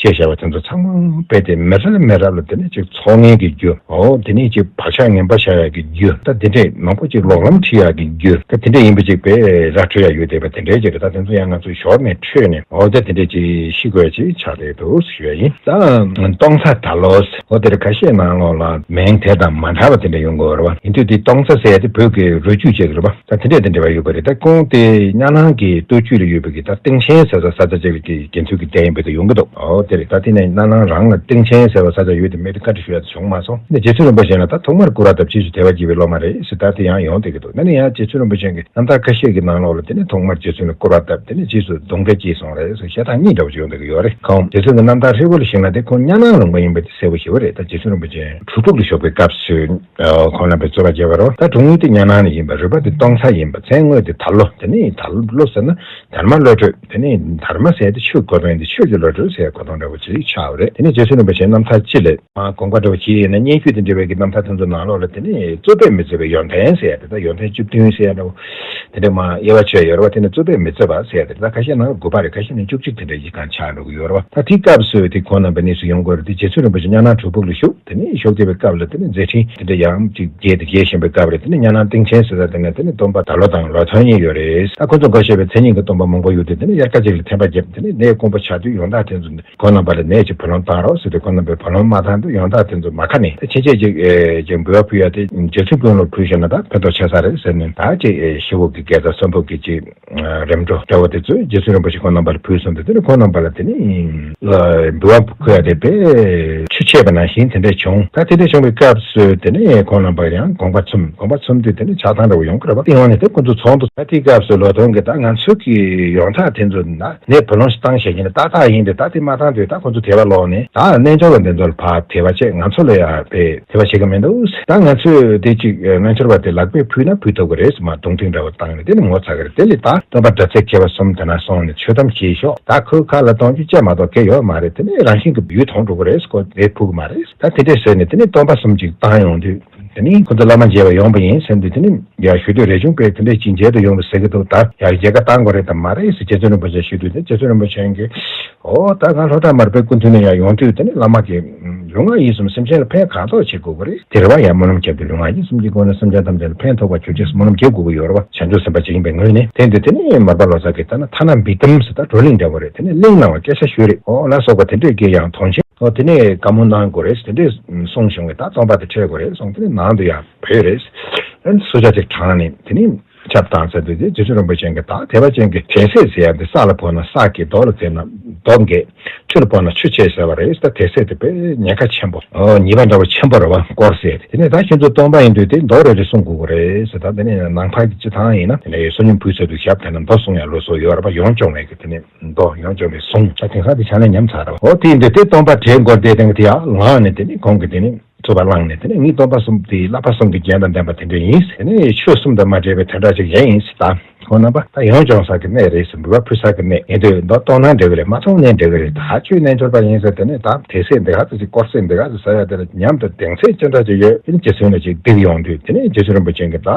ཞེས་བྱ་བ་དེ་ཚོ་ཚང་མ་སྤེལ་ཏེ་མི་རབས་ལ་མི་རབས་ལ་དེ་ནས་ཅིག་ཚོགས་ངན་གྱི་རྒྱུ། དེ་ནས་ཅིག་བག་ཆགས་ངན་པ་བྱ་ཡག་གི་རྒྱུ། ད་དེ་འདྲས་མང་པོ་ཅིག་ལོག་ལམ་ཁྲིད་ཡག་གི་རྒྱུ། ད་དེ་འདྲས་ཡིན་པ་ཅིག་བེ་རག་ཁྲོད་ཡག་ཡོད་དེ་བ་དེ་འདྲས་ཅིག་ད་དེ་ཚོ་ཡང་ང་ཚོ་ཞོར་ནས་ཁྲོད་ནས་ཨོ་ད་དེ་འདྲས་ཅིག་ཤི་དགོས་ཅིག་ཆགས་བསྡད་འདུག་ཞུ་བ་ཡིན། ད་སྟོང་ཚ་ད་ལོས་ཨོ་དེར་ཁ་ཤས་ནང་ལོག་ལ་མིང་དེ་དང་མ་འདྲ་བ་དེ་འདྲས་ཡོང་གི་རེད་བ། ཡིན་དུས་དེ་སྟོང་ཚ་ཟེར་ཡ་དེ་བོད་ཀྱི་རུས་རྒྱུད་ཅིག་རེད་བ། ད་དེ་འདྲས་དང་འབྲེལ་བ་ཡོད་པ་རེད་ད་སྐྱོང་དེ་གཉའ་ནང་གི་སྟོད་རྒྱུད་ལ་ཡོད་པའི་གི་ད་སྟེང་ཆེན་ཟེར་ས་ས་ཆ་བཅས་ཀྱི་དགེ་ཚུལ་གྱི་རྒྱ་ཡིན་པའི་ད་ཡོང་གི་འདུག་ཨོ་དེ་རེད་ད་དེ་ནས་གཉའ་ནང་རང་ལ་སྟེང་ཆེན་ཟེར་བ་ས་ཆ་ཡོད་དེ་མེད་དེ་བཀའ་དྲི་ཞུ་ཡག་ད་བྱུང་མ་སོང་ནས་རྗེ་བཙུན་རིན་པོ་ཆེན་ལ་ད་ཐོག་མར་སྐུ་རག་ད་ཕྱིས་སུ་དད་པ་སྐྱེས་པའི་སློབ་མ་རེད་ཟེར་ད་དེ་ཡང་ཡོང་བསྡད་ཀྱི་འདུག་ནས་ནས་ཡང་རྗེ་བཙུན་རིན་པོ་ཆེན་གི་རྣམ་ཐར་ཁ་ཤས་ཀྱི་ནང་ལོགས་ལ་དེ་ནས་ཐོག་མར་རྗེ་བཙུན་ལ་སྐུ་རག་ད་དེ་ནས་ཕྱིས་སུ་གདུང་འདྲེ་སྐྱེས་སོང་རེད་ཟེར་ཞེ་སྡང་གཉིས་འདྲ་བོ་ཅིག་ཡོང་བསྡད་ཀྱི་ཡོད་རེད་ཁོང་རྗེ་བཙུན་གྱི་རྣམ་ཐར་ཧྲིལ་བོ་ལ་གཞིགས་ན་དེ་ཁོང་གཉའ་ནང་ལུང་པ་ཡིན་པ་དེ་གསལ་བོ་ཞི་བ་རེད་ད་རྗེ་བཙུན་རིན་པོ་ཆེན་བྲུ་ཕུག་ཏུ་ཞོགས་པའི་སྐབས་སུ། ཁོང་རྣམ་པའི་རྩོད་པ་རྒྱས་པར་རོ། ད་དྲུང་ངུས་དེ་གཉའ་ནང་ནས་ཡིན་པ་རུས་པ་དེ་སྟོང་ཚ་ཡིན་པ་མཚན་དངོས་དེ་དར་ལོ་དེ་ནས་ཡིན་དར་ལོ་ཟེར་ན་དར་མ་བློ་གྲོས་དེ་ནས་ཡིན་དར་མ་ཟེར་དེ་ཆོས་གོ་དོན་དེ་ཆོས་ཀྱི་བློ་གྲོས་ཟེར་གོ་དོན་འདྲ་བོ་ཅི་རིགས་ཆགས་པ་རེད་དེ་ནས་རྗེ་བཙུན་རིན་པོ་ཆེ་རྣམ་ཐར་སྤྱི་ལས། དགོངས་པ་འདྲ་བོ་ཅི་ཡིན་ན་སྙན་བརྒྱུད་དེ་འབྲི་བའི་གི་རྣམ་ཐར་དེ་ཚོ་ནང་ལོགས་ལ་དེ་ནས་རྩོད་པས་མི་རྩོད་པའི་ཡོན་ཏན་ཟེར་དེ་དག་ཡོན་ཏན་བཅུ་བདུན་ཟེར་འདྲ་བོ། དེ་འདྲ་མང་དབྱེ་བ་ཆོད་ཡོད་རེད་བ་དེ་ནི་རྩོད་པས་མི་རྩོད་པ་བསལ་ཏེ་རེད་ད་ཁ་ཤས་ནང་ལ་དགུ་པ་རེད་ཁ་ཤས་ནང་བཅུ་གཅིག་དེ་འདྲ་ཡིག་གང་ཆགས་འགྲོ་གི་ཡོད་རེད་བ་ད་དེའི་སྐབས་སུ་དེ་གོང་རྣམ་པའི་གནས་སུ་ཡོང་དགོས་རེད་དེ་རྗེ་བཙུན་རིན་པོ་ཆེ་གཉའ་ནང་དྲུག་ཕུག་ལ་བཞུགས་དེ་ནས་ཞོགས་ཀྱེ་བའི་སྐབས་ལ་དེ་ནས་མཛད་འཕྲིན་དེ་འདྲ་ཡག་ཡམ་ཅིག་རྒྱས་དེ་རྒྱས་བཞིན་པའི་སྐབས་རེད་དེ་ནས་གཉའ་ནང་སྟེང་ཆེན་ཟེར་ས་དེ་ནས་དེ་ནས་སྡོམ་པ་ད་ལོ་དང་ལོ་ཐོན་ཉེ་ཡོད་རེད་ད་ཁོང་ཚོ་འགོ་ཤེས་པའི་མཚན་ཉིད་ཀྱི་སྡོམ་པ་མང་པོ་ཡོད་དེ་དེ་ནས་དབྱར་ཁ་ཅིག་ལ་ཐན་པ་བརྒྱབ་དེ་ནས་ནད་དཀོན་པོ་ཆགས་དུས་ཡོངས་དག་དེ་ཚོ་ཁོ་རྣམ་པ་ལ་ནད་ཀྱི་བུ་ལོང་བཏང་རོགས་ཟེར་ཏེ་ཁོ་རྣམ་པས་བུ་ལོང་མ་བཏང་འདུག་ཡང་དག་དེ་ཚོ་མ་ཁ་ནས་ཕྱིན་ཆད་ཅིག་ཅིག་འབུལ་བ་ཕུལ་ཡ་དེ་རྗེ་བཙུན་དཔོན་སློབ་ཕུལ་ཤོར་ན་ད་ཕན་ཐོགས་ཆེ་ས་རེད་ཟེར་ནས་དག་ཅིག་ཤི་བོ་གི་སྐལ་བཟང་གསོན་ཕོད་གི་ཅིག་རེམ་འགྲོ་སྐྱ་བོ་དེ་ཚོས་རྗེ་བཙུན་རིན་པོ་ཆེ་ཁོ་རྣམ་པ་ལ་ཕུལ་སོང་དེ་དེ་ནས་ཁོ་རྣམ་པ་ལ་དེ་ནས། ལ་འབུལ་བ་ཕུལ་ཡ་དེ་པས། ཆུ་ཆད་པ་ནང་བཞིན་དེ་འདྲས་བྱུང་ད་དེ་འདྲས་བྱུང་བའི་སྐབས་སུ་དེ་ནས་ཁོ་རྣམ་པ་ཡང་དགོངས་པ་ཚུམས་དགོངས་པ་ཚུམས་དུས་དེ་ནས་ཆགས་སྡང་འདྲ་བོ་ཡོང་གི་རེད་བ་དེ་ཡོང་ནས་དེ་ཁོ་ཚོ་ཚོགས་འདུ་ད་དེའི་སྐབས་སུ་ལོ་དོན་གྱི་ད་ང་ཚོ་གི་ཡོང་ཐག་དེ་ཚོ་ན། ནས་བུ་ལོངས་བཏང་ཞེས་བྱས་ན་ད་ཐག་ཡིན་པས་ད་དེ་མ་བཏང་དུས་ད་ཁོ་ཚོ་དེ་བ་ལོག་ནས་ད་རྣལ་འབྱོར་བ་འདི་ཚོར་ཕ་དེ་བ་ཆེ་ང་ཚོ་ལ་ཡང་ཕས་དེ་བ་བྱེད་ཀྱི་མི་འདུག་ད་ང་ཚོས་དེ་ཅིག་རྣལ་འབྱོར་བ་དེ་ལག་པས་ཕུལ་ན་ཕུལ་ཐུབ་ཀྱི་རེད་ཟེར་མ་གདུང་ཐུག་འདྲ་བོ་བཏང་ནས་དེ་ནི་ངོ་ཚ་གི་རེད་དེ་ལས་ད་སྟོན་པ་དྲ་ཚིགས་མཁས་པ་གསུམ་དེ་ན་སོང་ནས་ཆོས་གཏམ་བྱས་ཤོག་ད་ཁོའི་ཁ་ལ་གཏོང་རྒྱུ་བཅས་མ་གཏོགས་སྐད་ཡོད་མ་རེད་དེ་ནས་རང་བཞིན་གྱི་ཡུལ་དོང་འགྲོ་གི་རེད་ཟེར་ཁོ་དེ་ཕུལ་གི་མ་རེད་ད་དེ་འདྲས་ཟེར་ནས་དེ་ནས་སྟོན་པ་གསུམ་ཅིག་བཏང་ཡོང་དུས། དེ་ནི་ཁོ་ཚོ་བླ་མ་མཇལ་བར་ཡོང་པ་ཡིན་ཟེར་འདུག་དེ་ནི་ཡར་ཞུ་དུས་རས་ཆུང་པས་དེ་འདྲའི་ཅི་མཇལ་དུ་ཡོང་བའི་ཟེར་གྱི་འདུག་ད་ཡར་རྒྱལ་ཁ་བཏང་དགོས་རེད་དམ་མ་རེད་ཟེར་རྗེ་བཙུན་རིན་པོ་ཆེ་ཞུས་དུས་དེར་རྗེ་བཙུན་རིན་པོ་ཆེ་གིས། ཨོ་ད་ང་ལྷོ་བྲག་མར་པའི་སྐུ་མཐུན་ནས་ཡར་ཡོང་དུས་དེ་ནི་བླ་མ་གིས། ལུས་ངག་ཡིད་གསུམ་སེམས་ཅན་ལ་ཕན་གང་ཐོག་བྱེད་དགོས་ཀྱི་རེད། དེ་རེ་བ་ཡར་སྨོན་ལམ་བརྒྱབ་དུས་ལུས་ངག་ཡིད་གསུམ་གྱི་སྒོ་ནས་སེམས་ཅན་ཐམས་ཅད་ལ་ཕན་ཐོགས་པ་བྱོས་རྗེས་སུ་སྨོན་ལམ་རྒྱས་དགོས་ཀྱི་ཡོད་རེད་བ་བྱང་ཆུབ་སེམས་དཔའ་ཇི་ཡིན་པའི་ངོས་ནས་དེ་འདུག་དེ་ནི་མར་པ་ལོ་ཙཱ་གིས་ལྟར་ན་ཐ་ན་འབིག་དམ་ཟེར་ད་གྲོ་གླེང་འདྲ་བོ་རེད་དེ་ནི་གླེང་གནང་བ་སྐད་ཆ་ཤོད་རེད་ཨོ་ལ་སོགས་པ་དེ་འདྲས་ཀྱིས་ཡང་དོན་ཆེན། ཨོ་དེ་ནས་བཀའ་མོལ་གནང་དགོས་རེད་དེ་འདྲས་གསུངས་བྱུང་བས་ད་རྩོམ་པ་དེ་འཕྲལ་དགོས་རེད་གསུངས་དེ་ནས་ནང་དུ་ཡར་བུད་རེད། ཨན་སུ་ཇག་ཅིག་དྲངས་ནས་དེ་ནས་ཁྱབ་བཏང་ཟེར་དུས་དེ་རྗེ་བཙུན་རིན་པོ་ཆེ་འགས་ད་དེ་བ་ཅན་གྱི་དད་སེར་ཟེར་ཡ་འདི་ས་ལ་བོར་ན་ས་སྐྱེ་རྡོ་ལ་འཛེར་ན་རྡོ་འགས་ཆུ་ལ་བོར་ན་ཆུ་སྐྱེ་ཟེར་བ་རེད་ད་དད་སེར་དེ་དཔེ་ཉེན་ཁ་ཆེན་པོ། ཉེས་པ་འདྲ་བོ་ཆེན་པོ་རེད་བ་སྐོར་ཟེར་ཏེ་དེ་ནས་ད་ཁྱེད་ཚོ་སྟོང་པ་ཡིན་དུས་དེ་མདོ་རེད་རེད་གསུངས་དགོས་དགོས་རེད་ཟེར་ད་དེ་ནས་ནང་འཕགས་ཀྱི་སྤྱི་ཐང་ཡིན་ན་དེ་ནས་བསོད་སྙོམས་ཕུལ་ཚོད་དུ་ཞབས་དེ་ན་མདོ་གསུངས་ཡ་ལོ་སོ་ཡོད་རེད་བ་ཡོང་སྐྱོང་བས་ཀྱི་དེ་ནས། མདོག་ཡང་འཇོམས་པའི་གཟུངས། ཆ་དེ་ཁ་དེ་ཆ་ནས་ཉམས་ཚར། འོ་དེའི་འདི་དེ་སྟོང་པ་དེའི་མགོར་བཟླས་དེ་དེ་ཡང་ལངས་ནས་དེ་ནི་གོང་གི་དེ་ནི་རྩུབ་པ་བླངས་ནས་དེ་ནི་ངའི་སྟོང་པ་གསུམ་དེའི་བསླབ་པ་གསུམ་གྱི་རྒྱན་དང་ལྡན་པ་དེ་འདྲས་ཡིན། དེ་ནི་ཆོས་གསུམ་དང་མ་འདྲེས་པའི་དོན་དག་ཅིག་ཡིན་སྲིད་ད། ཁོང་རྣམ་པ་ད་ཡང་སྦྱོང་ས་ཀྱི་གནས་རེད་ཟེར་འབུལ་བ་ཕུལ་ས་ཀྱི་གནས་ཡིན་དུས་མདོག་སྟོང་ན་འགྲིག་གི་རེད་མ་སྟོང་ནའི་འགྲིག་གི་རེད་ད་ཆོས་རྣལ་འབྱོར་པ་ཡིན་ཟེར་དེ་ནི་ད་དེ་སྲས་འདི་ག་ཟེར་ཅིག་དཀོར་སྲས་འདི་ག་ཟེར་ས་ཡ་དེ་ལ་ཉམས་དང་གདེང་ཚད་ཅི་འདྲ་ཅིག་ཡོད་དེ་ནི་རྗེ་བཙུན་ལ་ཅིག་བསྡིགས་ཡོང་དུས་དེ་ནི་རྗེ་བཙུན་རིན་པོ་ཆེ་འགའ་ད་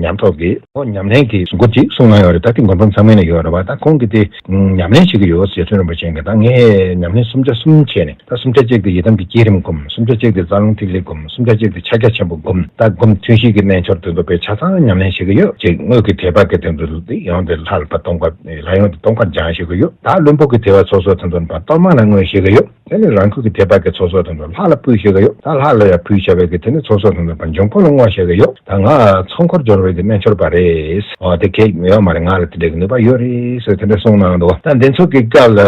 ཉམས་ཐོག་གི། ཁོང་ཉམས་ལེན་གྱི་འགོ་འདི་སྲུང་གནང་ཡོད་རེད་ད་ཐེངས་མགོན་པོ་མཚང་མེད་ནས་ཡོད་རེད་བ་ད་ཁོང་གིས་དེ་ཉམས་ལེན་བྱེད་ཀྱི་ཡོད་ཟེར་ཚུལ་རིན་པོ་ཆེ་འགས་ད་ངས་ཉམས་ལེན་སུམ་ཆ་གསུམ་བྱས་ནས་ད་སུམ་ཆ་གཅིག་དེ་ཡི་དམ་གྱི་བསྐྱེད་རིམ་བསྒོམ་སུམ་ཆ་གཅིག་དེ་རྩ་རླུང་ཐིག་ལེ་བསྒོམ་སུམ་ཆ་གཅིག་དེ་ཕྱག་རྒྱ་ཆེན་པོ་བསྒོམ་ད་བསྒོམ་ཐུན་བཞི་གི་རྣལ་འབྱོར་དེ་འདོད་པའི་ཆ་ཚང་ཉམས་ལེན་བྱེད་ཀྱི་ཡོད་ཅེས་དངོས་ཀྱི་དེ་བག་གི་དེ་ཚོ་དེ་ཡང་དེ་ལྷ་ལ་བ་སྟོང་པ་ལྷ་ཡོངས་དེ་སྟོང་པར་སྦྱང་བྱེད་ཀྱི་ཡོད་ད་བློན་པོ་གི་དེ་བ་ཚོ་སོགས་དེ་ཚོ་བ་སྟོང་མང་ལ་མངོན་བྱེད་ཀྱི་ཡོད། དེ་ནི་རང་ཁུལ་གྱི་དེ་བར་གྱི་ཚོགས་གསོག་དང་དུ་ལྷག་ལ་སྤུས་བཞེས་ཀྱི་ཡོད་ད་ལྷག་ལ་ཡང་ཕུལ་བྱ་བའི་གི་དེ་ནི་ཚོགས་གསོག་དང་དུ་བར་འབྱུང་ཁུངས་ལ་བསྔོགས་བྱས་ཀྱི་ཡོད་ད་ང་ཚོགས་འཁོར་སྦྱོར་བའི་གི་སྨན་འཆོར་བ་རེད། འོ་དེ་གེགས་ཡོད་མ་རེད་ང་ལ་དེ་འདྲའི་གི་ནུས་པ་ཡོད་རེད་ཟེར་དེ་འདྲ་གསུངས་གནང་འདུག་ད་འདི་ཚོགས་ཀྱི་སྐབས་ལ་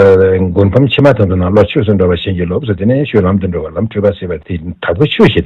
མགུར་ཕམ་ཕྱི་མ་དང་དུ་ནང་ལོག་ཆོས་སུ་འགྲོ་བ་བཞིན་གྱི་ལོབས་སུ་དེ་ནས་ཤུལ་ལམ་དུ་འགྲོ་བ་ལམ་འཁྲུལ་པ་སེལ་བའི་དེ་དྲག་པོའི་ཆོས་ཤིག་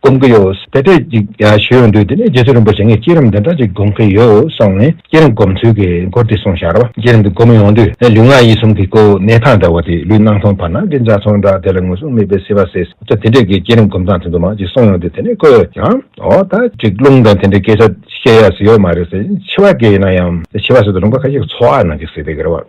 སྒོམ་གྱི་ཡོད། དེ་འདྲ་ཅིག་ཞུ་ཡོང་དུས་དེ་ནས་རྗེ་བཙུན་རིན་པོ་ཆེ་ངས་བསྐྱེད་རིམ་འདི་འདྲ་ཅིག་སྒོམ་གྱི་ཡོད་གསུངས་ནས་བསྐྱེད་རིམ་སྒོམ་ཚུལ་གྱི་སྐོར་དེ་གསུངས་ཤར་བ། བསྐྱེད་རིམ་དེ་སྒོམ་ཡོང་དུས་ལུས་ངག་ཡིད་གསུམ་གྱི་སྐུ་གནས་ཐང་འདྲ་བ་དེ་ལུས་སྣང་མཐོང་བར་སྣང་གི་འཇའ་ཚོན་འདྲ་དེ་ལ་ངོས་བཟུང་མེད་པའི་བསིལ་བ་སེར་སེར་དེ་འདྲ་གྱི་བསྐྱེད་རིམ་སྒོམ་སྟངས་དེ་ཚོ་མང་ཅིག་གསུངས་ཡོང་དུས་དེ་ནས་ཁོས་ཀྱང་ཨོ་ད་ཅིག་རླུང་དང་དེ་འདྲའི་སྐད་ཆ་བཤད་ཡག་ཟིག་ཡོད་མ་རེད་ཟེར་བྱིས་པ་སྐད་ཡིན་ན་ཡང་བྱིས་པ་ཟེར་དུས་རུང་བ་ཁ་ཤས་ཀྱི་ཚོར་བ་ནང་གི་ཟིག་དེ་ག་རེ་བ།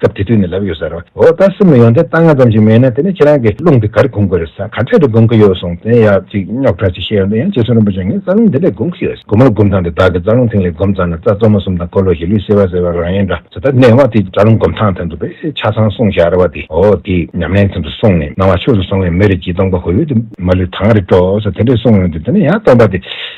སྐབས་དེ་དུས་ནས་ལབ་ཡོད་ཟེར། འོ་ད་སེམས་ལ་ཡོང་དེ་ལྟ་ང་ཙམ་ཞིག་མེད་ན་དེ་ནས་ཁྱེད་རང་གི་རླུང་དེ་གར་གོམས་དགོས་རེད་ས་ག་འཕྲལ་དུ་གོམས་ཀྱི་ཡོད་སོང་དེ་ཡག་ཅིག་རྙོག་ཁྲ་ཅིག་བཤད་ཡོང་དུས་ཡང་རྗེ་བཙུན་རིན་པོ་ཆེ་ངས་རྩ་རླུང་དེ་འདྲས་གོམས་ཀྱི་ཡོད། གོམས་རླུང་གོམས་སྟངས་དེ་བདག་གི་རྩ་རླུང་ཐིང་ལེ་གོམས་ཙམ་ན་རྩ་གཙོ་མོ་གསུམ་དང་འཁོར་ལོ་བཞི་ལུས་སེལ་བ་ཟེར་བ་རང་ཡིན་འདྲ་ཟེར་ད་ནས་བ་དེ་རྩ་རླུང་གོམས་སྟངས་དེ་འདུག་པས་ཆ་ཚང་གསུང་བཞག་རེད་བ་དེ་འོ་དེ་ཉམས་ལེན་ཙམ་དུ་སོང་ནས་སྣང་བ་ཆོས་སུ་སོང་བས་མི་རིགས་ཀྱི་སྟོང་པ་ཧོལ་ཡོལ་དུ་མ་ལུས་ཐང་རེ་སྤྲོ་ས་དེ་འདྲས་གསུང་ཡོང་དུས་དེ་ནས་ཡང་སྟོང་པ་དེ།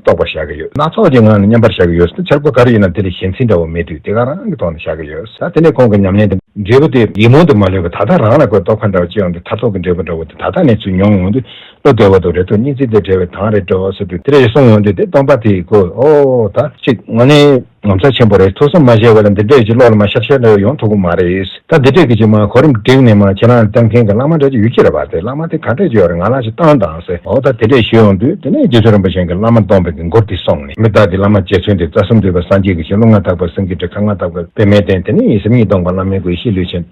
རྟོགས་པར་བཞག་གི་ཡོད། སྣ་ཚོགས་ཀྱི་ངང་ནས་མཉམ་པར་བཞག་གི་ཡོད། འདི་འཆར་སྒོ་ག་རེ་ཡིན་ནམ་དེ་ལས་གཞན་ཚིག་འདྲ་བོ་མེད་དུས་དེ་ག་རང་གི་ཐོག་ནས་བཞག་གི་ཡོད། ད་དེ་ནས་ཁོང་གི་ཉམས་ལེན་དང། འབྲས་བུ་དེ་ཡིད་སྨོན་དུ་མ་ལོན་པའི་ད་ལྟ་རང་ལ་དགོས་རྟོགས་ག་འདྲ་བ་ཅི་ཡོང་དེ་མཐར་རྟོགས་ཀྱི་འབྲས་བུ་འདྲ་བོ་དེ་ད་ལྟ་ནས་ཚུར་མྱོང་འོང་དུས་བློ་བདེ་བོ་དང་རེ་དོགས་གཉིས་ཚིག་དེ་བྲལ་བའི་དང་རེ་བྲལ་བ་སོགས་དུས་དེ་རེ་གསུངས་འོང་དུས་དེ་སྟོང་པ་དེ་གོ་འོ་ད་ཅིག་ངོ་ནས། ངོ་མཚར་ཆེན་པོ་རེད་ཐུགས་བསམ་མ་བཞེས་བ་ལ་འདི་འདྲས་ཀྱི་བློ་ལ་མ་ཤར་ཤར་ལ་ཡོང་ཐུབ་པོ་མ་རེད་ད་འདི་འདྲས་ཀྱི་ཅིག་མ་གོ་རིམ་བསྒྲིགས་ནས་མ་ཁྱེད་རང་ལྟ་མཁན་གྱི་བླ་མ་འདྲ་ཅིག་ཡོད་ཀྱི་རེད་བ་དེ་བླ་མ་དེ་ག་འདྲས་ཀྱི་ཡོད་རེད་ང་ལ་ཅིག་བཏང་དང་ཟེར་འོ་ད་དེ་འདྲས་ཞུས་ཡོང་དུས་དེ་ནས་རྗེ་བཙུན་རིན་པོ་ཆེན་གྱི་བླ་མ་སྟོང་པའི་གི་མགུར་དེ་སོང་ནས་མི་བདག་གི་བླ་མ་རྗེ་བཙུན་དེ་རྩ་གསུམ་འདུས་པ་སངས་རྒྱས་ཀྱི་ཞིང་ཀླུ་མངའ་ཐག་པ་སེང་གེ་དྲེགས་ཁ་མངའ་ཐག་པ་པད་མའི་གདན་དེ་ནས་ཡིན་སེམས་ཉིད་སྟོང་པ་བླ་མའི་སྒོ་ཡེ་ཤེས་ལུས་ཆེན།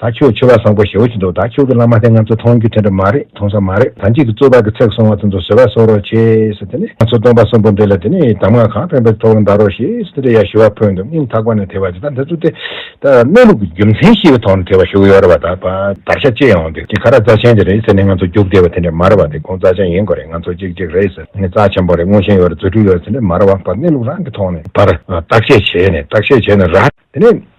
ད་ཁྱོད་ཆོས་པ་བཟང་པོ་ཞེ་བོ་ཅིག་འདུག་ད་ཁྱོད་ཀྱི་བླ་མ་དེ་ང་ཚོ་མཐོང་རྒྱུ་དེ་འདྲ་མ་རེད་མཐོང་ས་མ་རེད་ད་འཇིག་གི་གཙོས་བར་གི་ཚེག་སོང་བ་དེ་ཚོ་བཟོད་པ་གསོག་རོགས་བྱེད་ཟེར་དེ་ནས་ང་ཚོ་སྟོན་པ་གསུམ་པོ་འདི་ལ་དེ་ནས་གདམས་ངག་གང་ཕན་པའི་ཐོག་ལ་འདའ་རོགས་ཞེས་དེ་འདྲ་ཡང་ཞུ་བ་ཕུལ་འདུག་སྙིང་ཐག་པ་ནས་དེ་བ་དེ་ད་འདི་ཚོ་དེ་ད་གནས་ལུགས་ཀྱི་རྒྱུ་མཚན་ཤེས་པའི་ཐོག་ནས་དེ་བ་ཞུ་གི་ཡོད་རེད་བ་ད་བ་དར་ཤ་གཅིག་ཡོང་དེ་དེ་ག་ར་རྩ་ཆེན་དེ་རེད་ཟེར་ནས་ང་ཚོ་རྒྱུགས་བསྡད་པ་དེ་འདྲ་མ་རེད་བ་དེ་ཁོང་རྩ་ཆེན་ཡིན་དགོས་རེད་ང་ཚོ་ཅིག་ཅིག་རེད་ཟེར་ནས་རྩ་ཆེན་པོ་རེད་མངོན་ཞེན་ཡོད་རེད་རྫུ་འཕྲུལ་ཡོད་རེད་དེ་འདྲ་མ་རེད་བ་བ་གནས་ལུགས་རང་གི་ཐོག་ནས་བར་བརྟག་དཔྱད་བྱས་ནས་བརྟག་དཔྱད་བྱས་ནས་ར་དེ་ནས།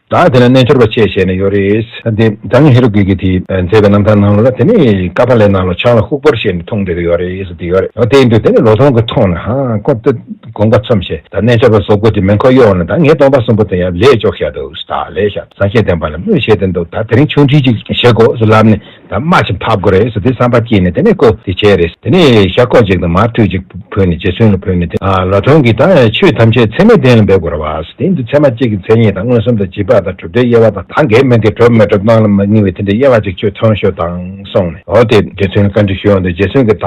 ད་དེ་ལ་རྣལ་འབྱོར་པ་བཅས་བྱས་ནས་ཡོད་རེད། དེ་ད་ངས་ཧེ་རུ་ཀའི་གིས་དེ་མཛད་པའི་རྣམ་ཐར་ནང་ལ་དེ་ནས་ཀ་པཱ་ལའི་ནང་ལ་ཆང་ལ་ཧུག་པར་བྱས་ནས་འཐུང་བསྡད་ཀྱི་ཡོད་རེད་ཟེར་གྱི་ཡོད་རེད་བལྟས་འདུག་དེ་ནས་ལོ་སྟོང་གི་ཐོག་ནས་ཧཧཧཀོབ་ཏུ་དགོངས་པ་ཚོམས་བྱས་ད་རྣལ་འབྱོར་པ་བཟོ་དགོས་ཀྱི་མིན་ཁོ་གཡོག་ནས་ད་ངས་སྟོང་པ་གསུམ་པོ་དེ་ཡང་ལས་ལྕོགས་ཤ་འདུག་ད་ལས་ཤ་ཟ་ཤེས་ལྡན་པ་ལ་སྨོད་བྱེད་དེ་འདུག་ད་དེ་རིང་ཆུང་འདྲིས་ཅིག་བྱེད་དགོས་སུ་ལབ་ནས་དམའ་ཞིང་ཕབ་དགོས་རེད་ཟེར་དེ་བསམ་པ་སྐྱེས་ནས་དེ་ནས་བཀོད་དེ་བྱས་རེད་དེ་ནས་ཤ་ཁོག་ཅིག་དང་མར་ཐུད་ཅིག་བུད་ནས་རྗེ་བཙུན་ལ་བོས་ནས་དེ་ལ་དོན་གྱིས་ད་ཆོས་ཐམས་ཅད་ཚད་མའི་གཏན་ལ་འབེབས་དགོས་ར་བ་ཟེར་དེ་འདི་ཚད་མ་གཅིག་གི་མཚན་ཉིད་དང་མངོན་སུམ་དང་བྱིས་པ་དང་གྲུབ་མཐའི་དབྱེ་བ་དང་ད་འགས་མི་འགས་གྲུབ་མི་གྲུབ་སྣང་ལ་མ་ངེས་པའི་དེ་འདྲའི་དབྱེ་བ་ཅིག་ཆོས་ཐོན་ཤོག་དང་གསུངས་ནས་འོ་དེ་རྗེ་བཙུན་ལ་བཀའ་འདྲི་ཞུ་འོང་དུས་རྗེ་བཙུན་གྱིས་ད་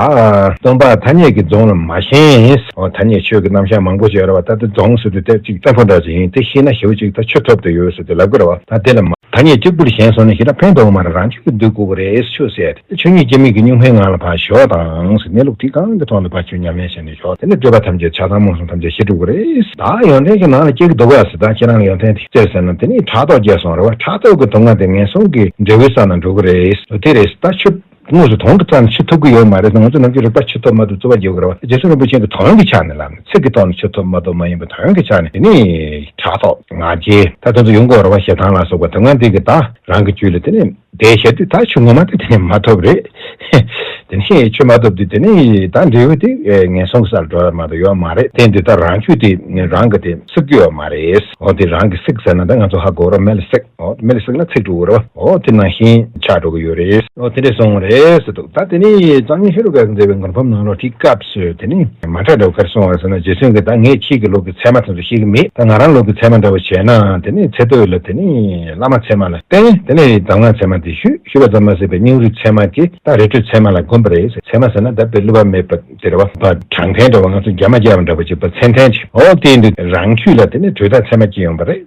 སྟོང་པ་ཐ་སྙད་ཀྱི་རྫོང་ལ་མ་ཞེན་ཐ་སྙད་ཆོས་ཀྱི་རྣམ་གཞག་མང་པོ་ཞིག་ཨ་ར་བ་ད་ལྟ་རྫོང་ཟེར་དུས་དེབ་ཅིག་ཏེན་ཕོ་འདྲ་ཞིག་ཡིན་དེ་ཤེས་ན་ཞེའུ་ཅིག་ད་ཆུ་ཐོབ་དུ་ཡོད་ཟེར་དུས་ལབ་དགོས་ར་བ་ད་དེ་ལ་མ་ཐ་སྙད་གཅིག་པུར་ཞེན་སོང་ན་ཞེ་དྲག་ཕན་ཐོག་མ་ར་རང་ཆུ་གི་བདུད་རྐུ་བོ་རེད་ཆུ་ཟེར་དེ་ཆུ་ཉིད་སྐྱེ་མེད་ཀྱི་གཉུག་མའི་ངང་ལ་ཕར་ཞོག་དང་ཟེར་གནས་ལུགས་དེ་གང་གི་ཐོག་ལ་ཕར་ཆུ་ཉམས་ལེན་བྱས་ནས་ཞོག་དེ་ནས་སྤྲོས་པ་ཐམས་ཅད་ཆགས་སྡང་རྨོངས་གསུམ་ཐམས་ཅད་ཞི་འགྲུབ་བོ་རེད། ད་ཡོན་ཏན་གྱི་ནང་ལ་སྐྱེ་གི་འདུག་ག་ཟེར་ད་ཁྱེད་རང་ལ་ཡོན་ཏན་དེ་བཙལ་ཟེར་ན་དེ་ནས་ཕྲག་དོག་སྐྱེས་སོང་ར་བ་ཕྲག་དོག་གི་དུག་ལྔ་དེ་ངན་སོང་གི་འབྲས་བུའི་ས་ན་འགྲོ་གི་རེད་དེ་རེད་ད་ཆུ་དངོས་སུ་དོན་གྱི་རྩ་ནས་ཆུད་ཐུབ་ཀྱི་ཡོད་མ་རེད་དེ་ང་ཚོ་རྣམས་ཀྱིས་རིག་པར་ཆུད་ཐོབ་མ་ཐོབ་རྩོད་པ་རྒྱག་དགོས་རེད་བ་རྗེ་བཙུན་རིན་པོ་ཆེན་གྱི་དོན་གྱི་ཆ་ནས་ལབ་ནས་ཚིག་གི་ཐོག་ནས་ཆུད་ཐུབ་མ་ཐུབ་མ་ཡིན་པ་དོན་གྱི་ཆ་ནས་དེ་ནི་ཕྲག་དོག་ང་རྒྱལ་ད་དོན་དུ་ཡོང་དགོས་རེད་བ་ཞེ་སྡང་ལ་སོགས་པ་དོན་ལྔ་འདི་གི་དག་རང་གི་རྒྱུད་ལ་དེ་ནི་དེ་ཞེ་དུས་དག་ཆུད་ངོ་མ་དེ་དེ་ནས་མ་ཐོབ་རེད་དེ་ནི་ཆུད་མ་ཐོབ་དུས་དེ་ནི་དག་འབྲས་བུ་དེ་ངན་སོང་གི་སར་འགྲོ་ཡོད་མ་གཏོགས་ཡོད་མ་རེད་དེ་འདི་དག་རང་ཆུད་དེ་རང་གི་དེ་བསྲེག་རྒྱུ་ཡོད་མ་རེད་འོ་དེ་རང་གི་བསྲེག་ཟེར་ན་དེ་ང་ཚོ་ཧ་གོ་རོགས་མེད་ལ་བསྲེག། མེད་ཟེར་ན་ཚིག་དྲུག་རེད། དེ་ནང་བཞིན་ཆགས་འགྲོ་གི་ཡོད་རེད། དེ་འདྲས་སོང་རེད་ཟེར་འདུག་ད་དེ་ནས་གཙང་གཉིས་ཧེ་རུ་ཀ་གི་མཛད་པའི་མགུར་ཕམ་ནང་ལོག་ཁྲིད་སྐབས་སུ་དེ་ནི་མ་ཁྲ་འདྲ་བོ་ཁར་སོང་བ་ཟེར་ན་རྗེ་བཙུན་གྱིས་ད་ངས་ཁྱེད་ཀྱི་ལུག་གི་ཚད་མ་ཚང་ཚུལ་ཤེས་ཀྱི་མེད་ད་ང་རང་ལུག་གི་ཚད་མ་འདྲ་བོ་བྱས་ན་དེ་ནི་ཚེ་སྟོད་ལ་དེ་ནི་བླ་མ་ཚད་མ་ལ་བསྟན་དེ་ནས་གདམས་ངག་ཚད་མ་འདི་ཞུ་ཞུས་པ་ཙམ་མ་ཟད་པའི་སྙིང་རུས་ཚད་མ་དེ་ད་རི་ཁྲོད་ཚད་མ་ལ་དགོན་པ་རེད་ཟེར་ཚད་མ་ཟེར་ན་ད་དཔེ་བསླུ་བ་མེད་པ་དེ་རེད་བ། པ་དྲང་བདེན་འདྲ་བ་ང་ཚོ་རྒྱ་མ་རྒྱ་བ་འདྲ་བོ་ཅིག་པ་ཚན་ཐན་ཅིག་འོ་དེའི་འདུག་རང་ཁྱུད་ལ་དེ་ནི་དྲོད་རྟགས་ཚད་མ་སྐྱེ་ཡོང་པ་རེད།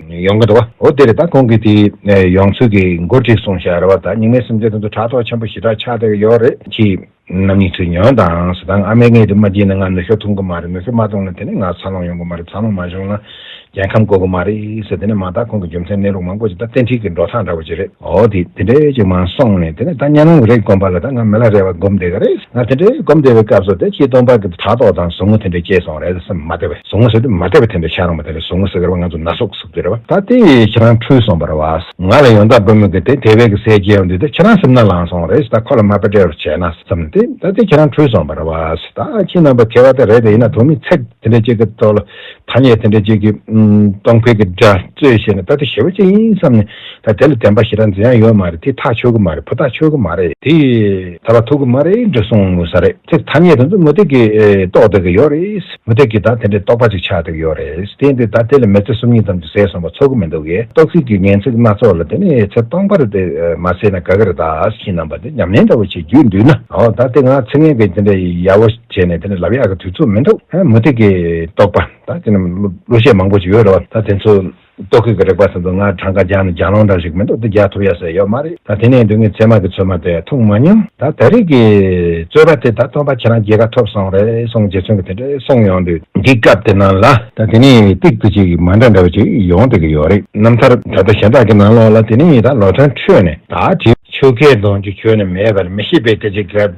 ཡོང་གི་འདུག་གོ་ཨོ་དེ་རེད་ད་ཁོང་གིས་དེ་ཡོང་ཚུལ་གྱི་མགོ་བྲིས་གསུང་བཤད་རེད་བ་ད་སྙིང་མའི་སེམས་ཅན་དོན་དུ་ཕྲག་དོག་ཆེན་པོ་ཞི་དྲག་ཆགས་བསྡད་ཀྱི་ཡོད་རེད་ཁྱི། རྣམ་གཉིས་ཚུར་ཉོན་དང་ཟེར་དང་ཨ་མས་ངའི་དེ་མ་བརྗེས་ན་ང་ནུ་ཞོ་འཐུང་གི་མ་རེད་ནུ་ཞོ་མ་བཏུང་ན་དེ་ནས་ང་འཚར་ལོངས་ཡོང་གི་མ་རེད་འཚར་ལོངས་མ་བྱུང་ན་རྒྱལ་ཁམས་བསྐོ་གི་མ་རེད་ཟེར་དེ་ནས་མ་དག་ཁོང་གི་རྒྱུ་མཚན་གནས་ལུགས་མང་པོ་ཞིག་ད་བསྟན་འཁྲིད་ཀྱི་འགྲོ་སྟངས་འདྲ་བོ་ཅིག་རེད། འོ་དེ་དེ་འདྲའི་ཡོད་ཅིག་མ་སོང་ནས་དེ་ནས་ད་གཉའ་གནོང་གི་རེས་བསྒོམ་པ་ལ་ད་ང་མི་ལ་རེ་བ་བསྒོམ་བསྡད་ག་རེ་ང་དེ་འདྲའི་བསྒོམ་བསྡད་པའི་སྐབས་སུ་དེ་ཕྱིའི་སྟོང་པ་གི་དྲ་ཐོག་དང་ཟུག་རྔུ་དེ་འདྲའི་སྐྱེས་སོང་རེད་སེམས་མ་བདེ་བས་ཟུག་རྔུ་ཟེར་དུས་མ་བདེ་བ་དེ་འདྲ་ཆགས་རུང་བ་དེ་ལ་ཟུག་རྔུ་ཟེར་ག་བ་ང་ཚོ་ན་ཟུག་ཟུག་དེ་རེད་བ་ད་དེ་ཁྱེད་རང་འཁྲུལ་སོང་བར་བ། ང་ལ་ཡོང་ད་བུ་མོ་གི་དེ་དེ་བས་གི་ཟས་སྐྱེས་ཡོང་དུས་དེ་ཁྱེད་རང་སེམས་ན་ལངས་སོང་རེས་ད་ཁོ་ལ་མ་བདེ་བར་བྱས་ན་བསམ་ནས་དེ་ད་དེ་ཁྱེད་རང་འཁྲུལ་སོང་བར་བ། ད་ཁྱི་རྣམ་པ་ཁྱེད་བ་དེ་རེད་དེ་ཡིན་ན་དོན་མི་ཚེག་དེ་འདྲའི་སྐྱེ་གི་ཐོག་ལ་ཐ་སྙད་དེ་འདྲ་གཅིག་གིས་སྟོང་འཕེལ་གྱི་འདྲ་རྩོད་བྱས་ནས་ད་དེ་ཞེ་པོ་གཅིག་ཡིན་བསམ་ནས་ད་དེ་ལ་བདེན་པ་ཞེ་དྲག་འཛིན་ཡ་ཡོད་མ་རེད་དེ་ཐག་ཆོད་གི་མ་རེད་བུ་ཐག་ཆོད་གི་མ་རེད་དེ་ད་བར་ཐུག་གི་མ་རེད་འདྲ་གསུང་ས་རེད་ཚེ་ཐ་སྙད་དེ་ཚོ་མུ་སྟེགས་ཀྱིས་རྟོགས་བསྡད་གི་ཡོད་རེད་མུ་སྟེགས་ཀྱིས་ད་དེ་འདྲའི་རྟོགས་པ་གཅིག་ཆགས་བསྡད་གི་ཡོད་རེད་དེ་འདི་ད་དེ་ལ་མི་ཚེ་སུམ་གཉིས་ཙམ་གྱི་ཟས་སོང་བ་ཚོར་གི་མི་འདུག་གས་རྟོགས་ཚིག་གི་ངན་ཚིག་སྣ་ཚོགས་ལ་དེ་ནི་ཚེ་སྟོང་པར་དེ་མ་བསྲེས་ན་དགའ་གི་རེད་ད་ཕྱིན་རྣམ་པ་འདི་ཉམས་ལེན་འདྲ་བོ་བྱེད་རྒྱུ་འདུག་ན་འོ་ད་དེ་ང་ཚེ་ངན་གྱི་དེ་འདྲའི་ཡ་བོ། བྱས་ནས་དེ་ནས་ལབ་ཡག་གི་དུས་ཚོད་མི་འདུག་མུ་ཏིག་གི་རྟོག་པ་དང་དེ་རྣམས་གླུ་གཞས་མང་པོ་ཞིག་ཡོད་རེད་བ་ད་དེ་ཚོ་རྟོག་གི་གི་རེག་པ་ཟེར་དུ་ང་གྲངས་ཀ་རྒྱག་ན་རྒྱག་ལོང་འདྲ་ཞིག་མི་འདུག་འདི་རྒྱག་ཐུབ་ཡག་ཟེར་ཡོད་མ་རེད་ད་དེ་ནས་དུས་ངས་ཚད་མ་གི་ཚོད་མ་དེ་འཐུང་མ་མྱོང་ད་ད་རེས་ཀྱི་རྩོད་པ་དེ་ད་སྟོན་པ་ཁྱེད་རང་རྒྱལ་ཁ་ཐོབ་སོང་རེད་སོང་རྗེས་ཚོན་གི་དེ་འདྲས་སོང་ཡོང་དུས་འདི་སྐབས་དེ་ནང་ལ་ད་དེ་ནས་ཏིག་ཏིག་ཅིག་མ་འདྲ་འདྲ་བ་ཅིག་ཡོང་སྡོད་ཀྱི་ཡོད་རེད་རྣམ་ཐར་ད་ལྟ་གཞན་དག་གི་ནང་ལོགས་ལ་དེ་ནས་ད་ལོ་ཐོན་ཁྲོད་ནས་ད་དེ། ཆོལ་ཁའི་གདོང་རྒྱུད་ཁྱོན་ནས་མེད་པར་མི་ཤེས་པའི་སྐད་ཅིག་གབ།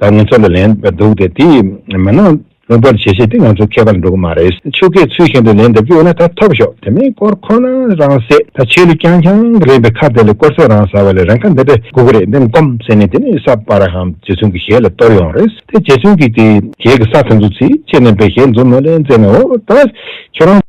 ད་ང་ཚོ་ལ་ལན་འདེབས་འདུག་དེ་དེ་མིན་ན་ལོན་པར་བྱེད་ཤེས་དེ་ང་ཚོ་མཁས་པར་འགྲོ་གི་མ་རེད་ཆོལ་ཁའི་ཚུལ་བཞིན་དུ་ལན་འདེབས་ཀྱི་ཡོད་ན་ད་ཐོབ་ཤོག་དེ་མིན་སྐོར་ཁོ་ན་རང་བསད་ད་ཆོས་ལུགས་རྐྱང་རྐྱང་གི་རེད་པའི་ཁ་དེ་ལ་སྐོར་ཚད་རང་ཟ་བ་ལས་རང་ཁ་འདི་འདྲ་སྒུག་གི་རེད་འདེམས་སྒོམ་ཟེར་ནས་དེ་ནས་ས་པ་ར་ཧམ་རྗེ་བཙུན་གྱི་ཞལ་ལ་གཏོར་ཡོང་རེད་དེ་རྗེ་བཙུན་གྱིས་དེ་རྗེས་ཀྱི་ས་དེ་ཚོ་ཚིག་ཆེ་ནན་པའི་ཞལ་འཛུམ་མོ་ལས་མཛད་ནའོ་ད་ཁྱོད་རང།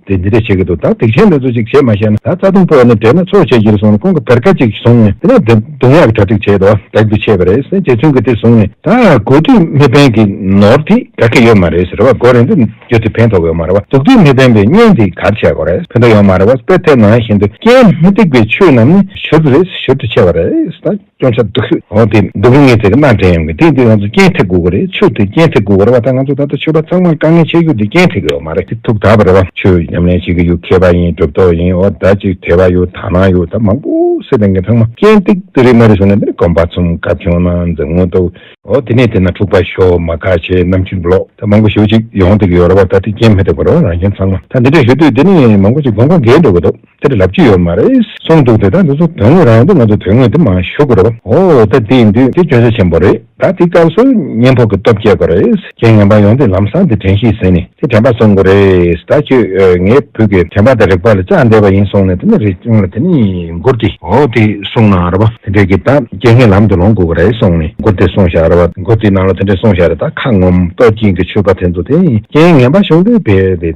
དེ་འདི་འདྲ་བྱེད་ཀྱི་འདུག་ད་སྡིག་ཆེན་འདི་ཚོ་ཅིག་བྱེད་མ་ཤེས་ན་ད་རྩ་ལྟུང་ཕོག་ནས་བསྡད་ན་ཆོག་བྱས་ཀྱིར་སོང་ནས་ཁོང་གི་བེར་ཀ་ཅིག་བཟུང་ནས་དེ་ནས་རྡུང་ཡག་གི་གྲ་སྒྲིག་བྱས་འདུག་བདག་གིས་ཆད་པ་རེད་སེམས་རྗེ་བཙུན་གྱིས་དེ་བཟུང་ནས་ད་དགོས་དུས་མི་ཕན་གི་ནོར་དེ་ག་གི་ཡོད་མ་རེད་ཟེར་བ་སྒོ་རེ་འདི་བརྒྱུད་དེ་ཕན་ཐོག་ཡོད་མ་རེད་བ་སྡུག་དུས་མི་ཕན་པའི་བརྙན་དེ་གར་བྱས་དགོས་རེད་ཕན་ཐོག་ཡོད་མ་རེད་བ་དཔེ་དེབ་ནང་བཞིན་དུ་རྐྱེན་མི་སྡིག་པའི་ཆོས་རྣམས་ནི་ཞུ་རྒྱུ་རེད་ཟེར་ཞུ་དུ་ཆད་པ་རེད་ད། སྐྱོང་ཆ་སྡུག་ཤོས་འོ་དེ་སྡུག་གི་ངས་དེ་གནའ་དྲན་ཡོང་གི་དེ་དེ་ང་ཚོ་སྐྱེན་ཐེག་དགོས་གི་རེད་ཆུ་དེ་སྐྱེན་ཐེག་དགོས་གི་རེད་བ་ད་ང་ཚོ་ད་ལྟ་ཆོས་པ་ཚང་མར་དཀའ་ངལ་ཆེ་རྒྱུ་དེ་སྐྱེན་ཐེག་གི་འོ་མ་རེད་དེ་ཐུགས་དག་པ་རེད་བ་ཆོས་ཉམས་ལེན་བྱེད་གི་ཡོད་མཁས་པ་ཡིན་གྲུབ་ཐོབ་ཡིན་འོ་ད་ཅིག་དད་པ་ཡོད་དག་སྣང་ཡོད་ད་མང་པོ་སེ་དེ་ངས་ཚང་མ་སྐྱེན་ཐེག་དེ་རེད་མ་རེད་ཟེར་ན་དེ་ནི་གོམ་པ་ཚུམ་ག་ཁྱོད་ན་འཛེམ་ངོ་ཏོ། འོ་དེ་ནས་དེ་ན་འཁྲུག་པ་ཤོག་མ་ཁ་ཆེ་ནམ་ཕྱིར་ལོག་ད་མང་པོ་ཞོ་ཅིག་ཡོང་ཐེག་གི་ཡོད་རེད་བ་ད་དེ་སྐྱེན་མི་ཐེག་པ་རེད་བ་རང་ཁྱོད་ཚང་མ་ད་འདི་འདྲ་ཞུ་དུས་དེ་ནི་མང་པོ་ཅིག་གོམ་གང་འགེལ་འགྲོ་གི་འདུག། དེ་འདྲ་ལབ་ཀྱི་ཡོད་མ་རེད། གསུངས་འདུག་དེ་དག་འདི་ཚོ་དོན་དངོས་རང་དུ་ང་ཚོ་དོན་དངོས་དེ་མ་ཞུ་དགོས་རེད། ཨོ་ད་དེ་ཡིན་དུས་དེ་སྐྱོན་ཆ་ཆེན་པོ་རེད་ད་དེ་སྐབས་སུ་གཉེན་ཕོག་གི་སྟོབས་སྐྱེ་དགོས་རེད། ཁྱེད་ངན་པ་ཡོང་དུས་ལམ་སང་དེ་དྲན་ཤེས་ཟིན་ནས་དེ་དྲན་པ་བཟོ་དགོས་རེད་ད་ཁྱོད་ངའི་བུ་གི་དྲན་པ་དང་རིག་པ་ལ་བཅག་འདས་པ་ཡིན་གསུངས་ནས་དེ་ནས་རེ་བྱུང་ལ་དེ་ནས་མགུར་དེ། ཨོ་དེ་གསུངས་ན་རེད་པ་དེ་འདྲས་ཀྱི་ད་སྐྱེ་ངན་ལམ་དུ་ལོངས་དགོས་ཀྱི་རེད་གསུངས་ནས་མགུར་དེ་གསུངས་ཤག་རེད་པ་མགུར་དེའི་ནང་ལ་དེ་འདྲས་གསུངས་ཤག་རེད་ད་ཁ་ངོམ་སྟོབས་ཀྱིན་གྱི་ཆོས་པ་དེ་ཚོ་དེ་སྐྱེ་ངན་པ་བྱུང་དུས་བལ་དེ།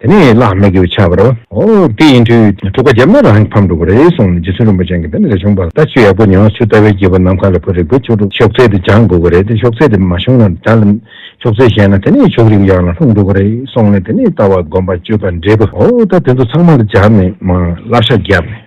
དེ་ནས་བླ་མས་ཀྱིས་ཕྱག་བར། ཨོ། དེ་ཡིན་དུས་དྲུག་པ་བརྒྱབ་ན་རང་གི་ཕམ་འགྲོ་གི་རེད་གསུངས་ནས་རྗེ་བཙུན་རིན་པོ་ཆེ་གིས་འདི་ནས་ལས་བྱུང་བ་ལྟ་ཆུ་ཡག་པོ་ཉོ་ཆུ་ལྟ་བས་རྒྱས་པ་ནམ་མཁའ་ལ་བུ་རིག་པའི་ཆོ་འཕྲུག་ཤོག་ཚད་དེ་སྦྱང་དགོས་ཀྱི་རེད་དེ་ཤོག་ཚད་དེ་མ་བྱུང་ན་དགྲ་ལ། ཤོག་ཚད་བཞེས་ན་དེ་ནས་ཕྱོགས་རིགས་ཡག་ལ་ལྷུང་འགྲོ་གི་རེད་གསུངས་ནས་དེ་ནས་ལྟ་བ་སྒོམ་པ་སྤྱོད་པ་འབྲས་བུ་ཨོ་ད་དེ་ཚོ་ཚང་མ་ལ་སྦྱར་ནས་མ་བསླབ་ཤག་བརྒྱབ་ནས།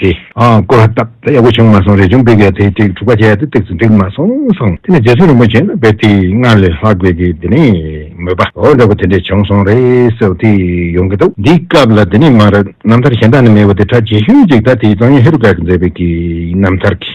དེ་ཀོ་ར་སྟག་ད་ཡག་པོ་བྱུང་མ་སོང་རས་ཆུང་སྤུས་ཀས་དེ་ཐིག་དྲུག་པ་བྱས་ཏེ་བཏེགས་སུ་འགྲིག་མ་སོང་སོང་དེ་ནས་རྗེ་བཙུན་རིན་པོ་ཆེ་ནང་པའི་ཐིག་སྔར་ལས་ལྷག་དགོས་ཀི་དེ་ནས་མོས་པ་འོ་འདྲ་པོ་དེ་འདྲས་བྱུང་སོང་རེད་སོགས་ཐིག་ཡོང་གི་འདུག་འདིའི་སྐབས་ལ་དེ་ནས་མར་རྣམ་ཐར་གཞན་དག་ནས་མེད་པ་དེ་གྲ་རྒྱས་ཤོས་གཅིག་ད་ཐིག་བཙོང་ཡུལ་ཧེ་རུ་ཀ་གི་མཛད་པའི་གི་རྣམ་ཐར་གི།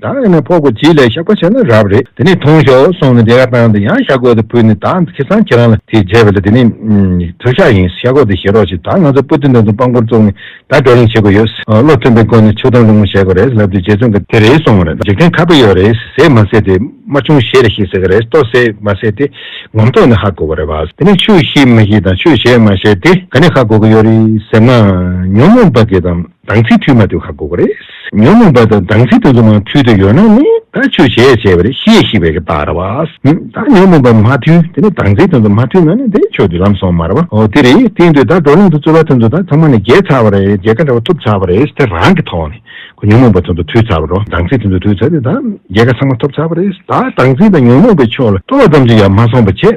དག་ཡང་ནས་ཕོག་གོ་བྱིས་ལས་ཤག་པ་བྱས་ན་རབ་རེད་དེ་ནས་འཐུང་ཤོག་སོང་ནས་དེ་ག་བཏང་དེ་ཡང་ཤ་གོས་དེ་ཕུལ་ནས་དག་ཁེ་སང་ཁྱེད་རང་ལ་དེ་བརྗེས་པ་ལ་དེ་ནས་དུ་ཤ་ཡིན་ཤ་གོས་དེ་བཞེས་རོགས་ཞེས་དག་ང་ཚོ་པོ་ཏི་འདི་ཚོ་དཔང་པོར་བཙུགས་ནས་དག་བགྲོ་གླེང་བྱེད་དགོས་ཡོད་བློ་མཐུན་པའི་སྒོ་ནས་ཆུ་དང་རླུང་མོ་བཞེས་གོ་རེད་ལབ་དེ་རྗེ་བཙུན་གྱི་དེ་རེད་སོང་བ་རེད་འཇིག་རྟེན་ཁ་པོ་ཡོད་རེད་ཟས་མ་ཟས་དེ་མ་ཆུང་བཞེས་རེད་ཞེས་ཟེར་གི་རེད་ཏོ་ཟས་མ་ཟས་དེ་ངོམ་ཐོག་ནས་ཧ་གོ་བ་རེད་བ། དེ་ནས་ཆུ་བཞེས་མ་བཞེས་དང་ཆུ་བཞེས་མ་བཞེས་དེ་ག་ནས་ཧ་གོ་གི་ཡོད་རེད་ཟེར་ན་ཉོན་མོངས་པ་གི་དང། དང་ཚིག་འཁྲུལ་མ་འདོན་ཁག་དགོས་པ་རེད། ཉོན་མོངས་པ་དང་དང་ཚིག་དོན་དུ་མ་མཐུན་དུ་ཡོད་ན་ནི་ད་ཆོས་བྱས་བྱས་པ་རེད་ཤེས་ཤེས་པའི་གི་ད་ར་བ། ད་ཉོན་མོངས་པ་མ་མཐུན་དེ་ནི་དང་ཚིག་དོན་དུ་མ་མཐུན་ན་ནི་དེ་ཆོས་དུས་ལམ་སོང་མ་ར་བ་ཨོ་དེ་རེད་དེ་ཡིན་དུས་ད་བགྲོ་གླེང་དུ་རྩོད་པ་དོན་དུ་ད་ཚང་མ་ནི་རྒྱལ་ཚར་བ་རེད་རྒྱལ་ཁ་འདྲ་བ་ཐོབ་ཚར་བ་རེད་དེ་རང་གི་ཐོག་ནས་གོ་ཉོན་མོངས་པ་དོན་དུ་ཐུལ་ཚར་བ་རོ་དང་ཚིག་དོན་དུ་ཐུལ་ཚར་དུས་ད་རྒྱལ་ཁ་ཚང་མ་ཐོབ་ཚར་བ་རེད་ད་དང་ཚིག་དང་ཉོན་མོངས་པའི་ཕྱོགས་ལ་སྤྲོ་བ་ཙམ་ཞིག་ཡང་མ་སོང་བ་བྱས།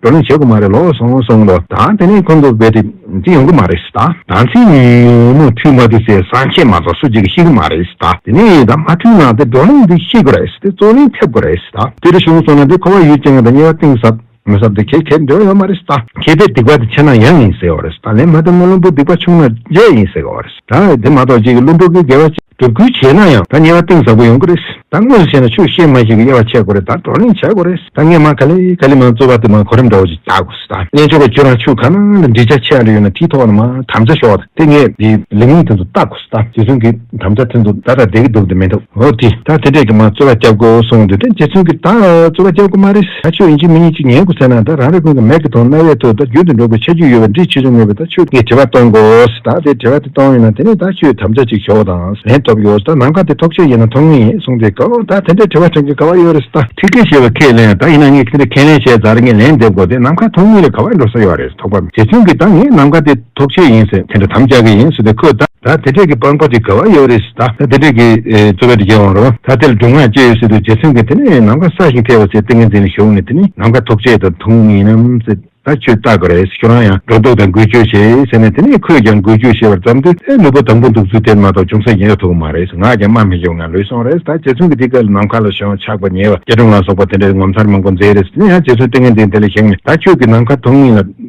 བགྲོ་གླེང་བྱེད་དགོས་མ་རེད་ལོག་སོང་གསུངས་མདོག་གདངས་དེ་ནས་ཁོང་ཚོ་བེད་སྤྲིབ་ཅིག་ཡོང་གི་མ་རེད་ད། དང་ཚིག་ངན་ངན་མོ་འཐུས་མ་འདི་ཟེར་བསམ་ཤེས་མ་ཚོགས་སུ་ཅིག་གིས་ཤེས་གི་མ་རེད་ད་དེ་ནས་ད་མ་འཐུས་ན་དེ་བགྲོ་གླེང་འདི་ཤེས་དགོས་རེད་དེ་རྩོད་གླེང་ཐེབས་དགོས་རེད་ད། དེ་རེ་བྱུང་སོང་ན་དེ་ཁོ་བ་ཡུལ་ཅན་དང་དབྱེ་བ་གཏིང་ཟབ་མི་ཟབ་དེ་ཁྱེད་ཁྱེད་འདོད་ཡོད་མ་རེད་ད། ཁྱེད་པའི་སྡིག་པ་དེ་ཆེ་ན་ཡང་ཡིན་ཟེར་བ་རེད་ད་ལན་མ་དེ་མོ་བླུན་པོ་སྡིག་པ་ཆུང་ན་བརྗེད་ཡིན་ཟེར་གི་བ་རེད་ད། དེ་མ་གཏོགས་ཅིག་གིས་བླུན་པོ་གི་དགེ་བ་ཅི། སྒྲུབ་བསྐུལ་བྱས་ན་ཡང་ད་ཉེ་བ་གཏིང་ཟབ་པོ་ཡོང་གི་རེད། ད་དངོས་སུ་བྱས་ན་ཆུ་གཤེར་མ་ཞིག་གི་དབྱེ་བ་ཕྱེ་དགོས་རེད་ད་བགྲོ་གླེང་བྱ་དགོས་རེད་ད་ངས་མ་ག་ལེ་ག་ལེ་མ་རྩོད་པ་དེ་མ་གོ་རིམ་འདྲ་བོ་ཞིག་བྱ་དགོས་རེད་ད་གླེང་ཆོག་པའི་ཁྱོད་རང་ཆུ་ག་ན་ལ་འབྲི་བྱ་ཆེ་ག་རེ་ཡོད་ན་དེའི་ཐོག་ལ་མ་དམ་བཅའ་ཞོག་ད་དེ་ངས་དེ་ལས་ངོས་དེ་ཚོ་ལྟ་དགོས་རེད་ད་རྗེ་བཙུན་གྱི་དམ་བཅའ་དེ་ཚོ་ད་ད་བསྡད་ཀྱི་འདུག་དེ་མིན་འདུག་འོ་དེ་ད་དེ་འདྲས་ཀྱི་མ་རྩོད་པ་བརྒྱབ་དགོས་གསུངས་འདུག་དེ་རྗེ་བཙུན་གྱི་ད་རྩོད་པ་བརྒྱབ་དགོས་མ་རེད། ད་ཆོས་ཡིན་གཅིག་མིན་ཡིན་གཅིག་ཉན་དགོས་ཟེར་ན་ད་རང་རེ་ཀུན་གྱི་མལ་གྱི་དོང་རྣ་བའི་ཐོད་ད་རྒྱུན་དུ་འགྲོགས་པའི་ཆ་རྒྱུས་ཡོད་པའི་འདྲིས་ཆེ་ཆུང་མེད་པས་ད་ཆོས་ཀྱི་དྲི་བ་གཏོང་དགོས་ད་དེ་དྲི་བ་དེ་གཏོང་ཡོད་ན་དེ་ནས་ད་ཆོས་དམ་བཅའ་ཅིག་ཞོག་དང་ལེན་ཐོབ་ཡོད་ད་ནམ་ག་དེ་ཐོག་ཆོས་ཡིན་ན་ཐོག་མིན་ཡིན་གསུངས་དེ་གོ་ད་དེ་འདྲའི་དྲི་བ་དྲན་གྱི་ག་བ་ཡོད་རེད་ད། ཐིག་ཁེ་ཞེས་པ་ཁས་ལེན་ད་ཡིན་ན་ངས་ཁེ་འདྲ་ཁས་ལེན་བྱས་ད་རེ་ངས་ལན་འདེབས་དགོས་དེ་ནམ་ག་ཐོག་མིན་རེད་ག་བ་འགྲོ་ས་ཡོད་རེད་ཐོག་པ་མིན་དེ་མཚུངས་ཀྱི་ད་ངས་ནམ་ག་དེ། ཐོབ་ཆེད་ཡིན་ཟེར་དེ་འདྲ་དམ་བཅའ་གི་ཡིན་ཟེར་དེ་ཁོས་ད། ད་དེ་འདྲས་ཀྱི་སྤང་སྤོ་དེ་ག་བ་ཡོད་རེད་ཟེར་ད། ད་དེ་འདྲས་ཀྱི་གཙོ་བའི་རྒྱལ་དབང་རོང་ད་དེ་ལ་སྒྲུང་ངག་ཅི་ཡོད་ཟེར་དུས་རྗེ་བཙུན་གྱིས་དེ་ནི་ནམ་མཁའ་ས་ཞིང་ཐེ་བ་ཟེར་ཏིང་ངེ་འཛིན་ལ་ཞུགས་ནས་དེ་ནི་ནམ་མཁའ་ཐོབ་ཆེད་དང་དུང་ངེ་ཡིན་ནམ་ཟེར་ད་ཁྱོས་བརྟག་གི་རེད་ཁྱོད་རང་ཡང་སྒྲོ་འདོགས་དང་འགུལ་སྐྱོད་བྱེད་ཟེར་ནས་དེ་ནི་ཁོས་ཀྱང་འགུལ་སྐྱོད་བྱེད་པར་བརྩམས་དུས་ཨེ་ནུས་པ་དང་པོ་འདུག་ཚུལ་དེར་མ་གཏོགས་ཅུང་ཟད་ཀྱང་ཡོད་ཐུབ་གི་མ་རེད་ངག་ཀྱང་སྨྲ་མི་ཤེས་པ་ངང་ལུས་སོང་རེད་ཟེར་ད་རྗེ་བཙུན་གྱིས་འདི་སྐབས་ལ་ནམ་མཁའ་ལ་ཞོན་ཆགས་པ་ཉེ་བ་སྐྱེ་འགྲོ་ང་སོགས་པ་དེ་འདྲས་ངོ་མཚར་མང་པོ་མཛད་རེད་ཟེར་དེ་ནས་ཡང་རྗེ་བཙུན་ཏིང་ངེ་འཛིན་དེ་ལ་ཞུགས་ནས་ད་ཁྱོད་ཀྱིས་ནམ་མཁའ་དུང་ངེ་ལ་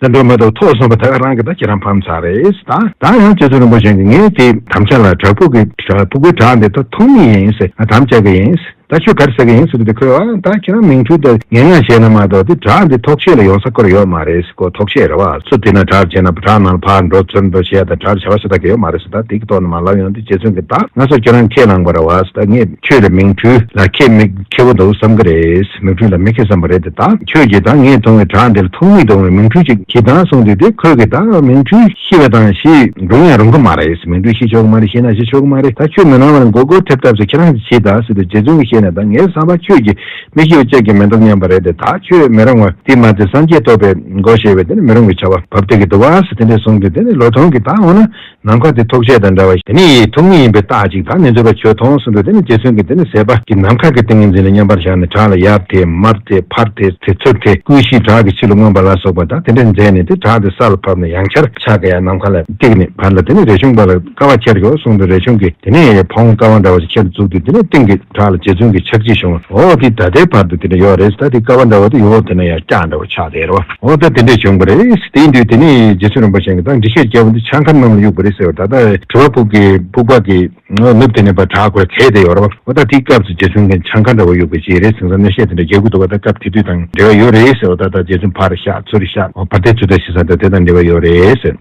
བཙན་པོའི་མེ་ཏོག་ཐོག་སོང་བ་དག་རང་གི་ད་ཁྱེད་རང་ཕམ་ཚར་རེད་ད་ད་ཡང་རྗེ་བཙུན་རིན་པོ་ཆེ་འདི་ངས་དེ་དམ་བཅའ་ལ་བྲག་ཕུག་གི་བྲག་ཕུག་གི་བྲག་འདི་ད་ཐོག་མི་ཡིན་ཟེར་ང་དམ་བཅའ་གི་ཡིན་ཟེར་ད་ཁྱོད་ག་རེ་ཟེར་གི་ཡིན་ཟེར་གི་འདི་ཁོས་ཨ་ད་ཁྱེད་རང་མིང་འཁྲུལ་དང་ངན་སྔགས་བྱས་ན་མ་གཏོགས་དེ་བྲག་འདི་ཐོག་ཆེད་ལ་ཡོང་ས་སྐོར་ཡོད་མ་རེད་ཟེར་ཀོ་ཐོག་ཆེད་རེད་བ་སུ་དེ་ན་བྲག་ཆེ་ན་བྲག་ནང་ལ་ཕར་འགྲོ་ཚུར་འགྲོ་བྱས་ད་བྲག་བྱ་བ་ཞེ་ད་གི་ཡོད་མ་རེད་ཟེར་ད་དེ་གི་ཐོག་ན་མ་ལབ་ཡོང་དེ་རྗེ་བཙུན་གི་ད་ང་སོ་ཁྱེད་རང་ཁས་བླངས་པ་རེད་བ་ཟེར་ད་ངས་ཁྱོད་ལ་མིང་འཁྲུལ་ལ་ཁྱེད་མི། ཁྱེར་བ་འདུག་བསམ་གི་རེད། མིག་འཕྲུལ་ལ་མི་ཁེ་བསམ་པ་རེད་དེ་དག་ཁྱོད་ཀྱིས་དང་ངས་མཐོང་བའི་བྲག་འདི་ལ་ཐུག་མིག་དང་བའི་མིག་འཕྲུལ་ཅིག་གྱིས་དང་གསུངས་དུས་དེ་ཁོད་ཀྱིས་དང་མིག་འཕྲུལ་ཤི་བ་དང་ཤི་རུང་ཡང་རུང་གི་མ་རེད་མིག་འཕྲུལ་ཤི་ཆོག་གི་མ་རེད་ཤི་ན་ཤི་ཆོག་གི་མ་རེད་ད་ཁྱོད་མི་སྣང་བ་ལ་མགོ་སྐོར་ཐེབས་ཐབས་སུ་ཁྱེད་རང་གིས་ཕྱིས་དང་སྲིད་དུ་རྗེ་བཙུན་གྱིས་ཤེས་ནས་དང་ངའི་བསམ་པ་ཁྱོད་ཀྱིས་མི་ཤི་བ་ཅག་གིས་མི་འདོམས་སྙམ་པ་རེད་དེ་དག་ཁྱོད་མི་རུང་བ་དེ་མ་ཚད་སངས་རྒྱས་སྟོབས་པའི་མགོ་ཞེས་པའི་དེ་ནི་མི་རུང་བའི་བྱ་བ་བབ་དེ་གི་འདུག་བ་སི་དེ་འདྲས་གསུངས་དུས་དེ་ནི་ལོ་ཐོང་གིས་དང་འོ་ན། ནམ་མཁའ་དེ་ཐོགས་བཅས་དང་འདྲ་བ་ཞིག་ནི་ཡིད་ཐོགས་མིན་ཡིན་པའི་རྟགས་གཅིག་དང་ནི་འཛོལ་བའི་ཆོས་ཐོངས་སུ་འདུག་དེ་ནི་རྗེ་བཙུན་གྱིས་འདི་ནི་ཟད་པ་ཀྱི་ནམ་མཁའ་གྱི་ཏིང་ངེ་འཛིན་ལ་མཉམ་པར་བཞག་ནས་བྲག་ལ་ཡབ་དེས་མར་དེས་ཕར་དེས་དེས་ཚུར་དེས་བསྐུལ་བཞིན་བྲག་གི་ཕྱི་ལ་མངོན་པ་ལ་སོགས་པ་དང་དེ་འདྲའི་མཛད་ནས་དེ་བྲག་དེ་ས་ལ་ཕབ་ནས་ཡང་ཆར་ཆག་གི་ཡང་ནམ་མཁའ་ལ་བཏེགས་ནས་བར་ལ་དེ་ནི་རས་ཆུང་པ་ལ་ཀ་བ་ཁྱེར་གྱིའོ་གསུངས་པས་རས་ཆུང་གིས་དེ་ནི་ཕོངས་ཀ་བ་འདྲ་བ་ཞིག་ཁྱེར་བཅུག་སྟེ་དེ་ནི་སྟེང་གི། བྲག་ལ་རྗེ་བཙུན་གྱི་ཕྱག་རྗེས་བྱུང་བ། འོ་དེ་ད་ལྟའི་བར་དུ་དེ་འདྲ་ཡོད་རེད་ད་དེ་ཀ་བ་འདྲ་བ་དེ་ཡོད་འོ་དེ་ན་ཡང་སྐྱག་འདྲ་བ་ཆགས་བསྡད་རོ། འོ་ད་དེ་འདྲས་བྱུང་བ་རེད། དེའི་དུས་དེ་ནས་རྗེ་བཙུན་རིན་པོ་ཆེན་གྱི་དང་འདྲི་བཤད་རྒྱལ་པོ་འདི་ཆང་ཁ་རྣམས་ལ་གཡུགས་པ་རེད་ཟེར་བ་ད་ལྟ་དྲི་བ་ཕུག་གི་ཕུག་པ་གི་ནུབ་དེ་ནས་བར་བྲག་གོ་ལ་ཚད་དེ་ཡོད་རོ། འོ་ད་དེའི་སྐབས་སུ་རྗེ་བཙུན་གྱི་ཆང་ཁ་འདྲ་བ་གཡུགས་པའི་རྗེས་རེད་ཟིང་ས་གནོད་བཤད་དེ་འདྲ་རྒྱག་གི་འདུག་བ་ད་སྐབས་དེ་དུས་དང་འབྲེལ་བ་ཡོད་རེད་ཟེར་བ་ད་ད་རྗེ་བཙུན་ཕར་བཤགས་ཚུར་བཤགས་བར་དེ་ཚུར་ད་ཤི་ས་ད་དེ་དང་འབྲེལ་བ་ཡོད་རེད་ཟེར།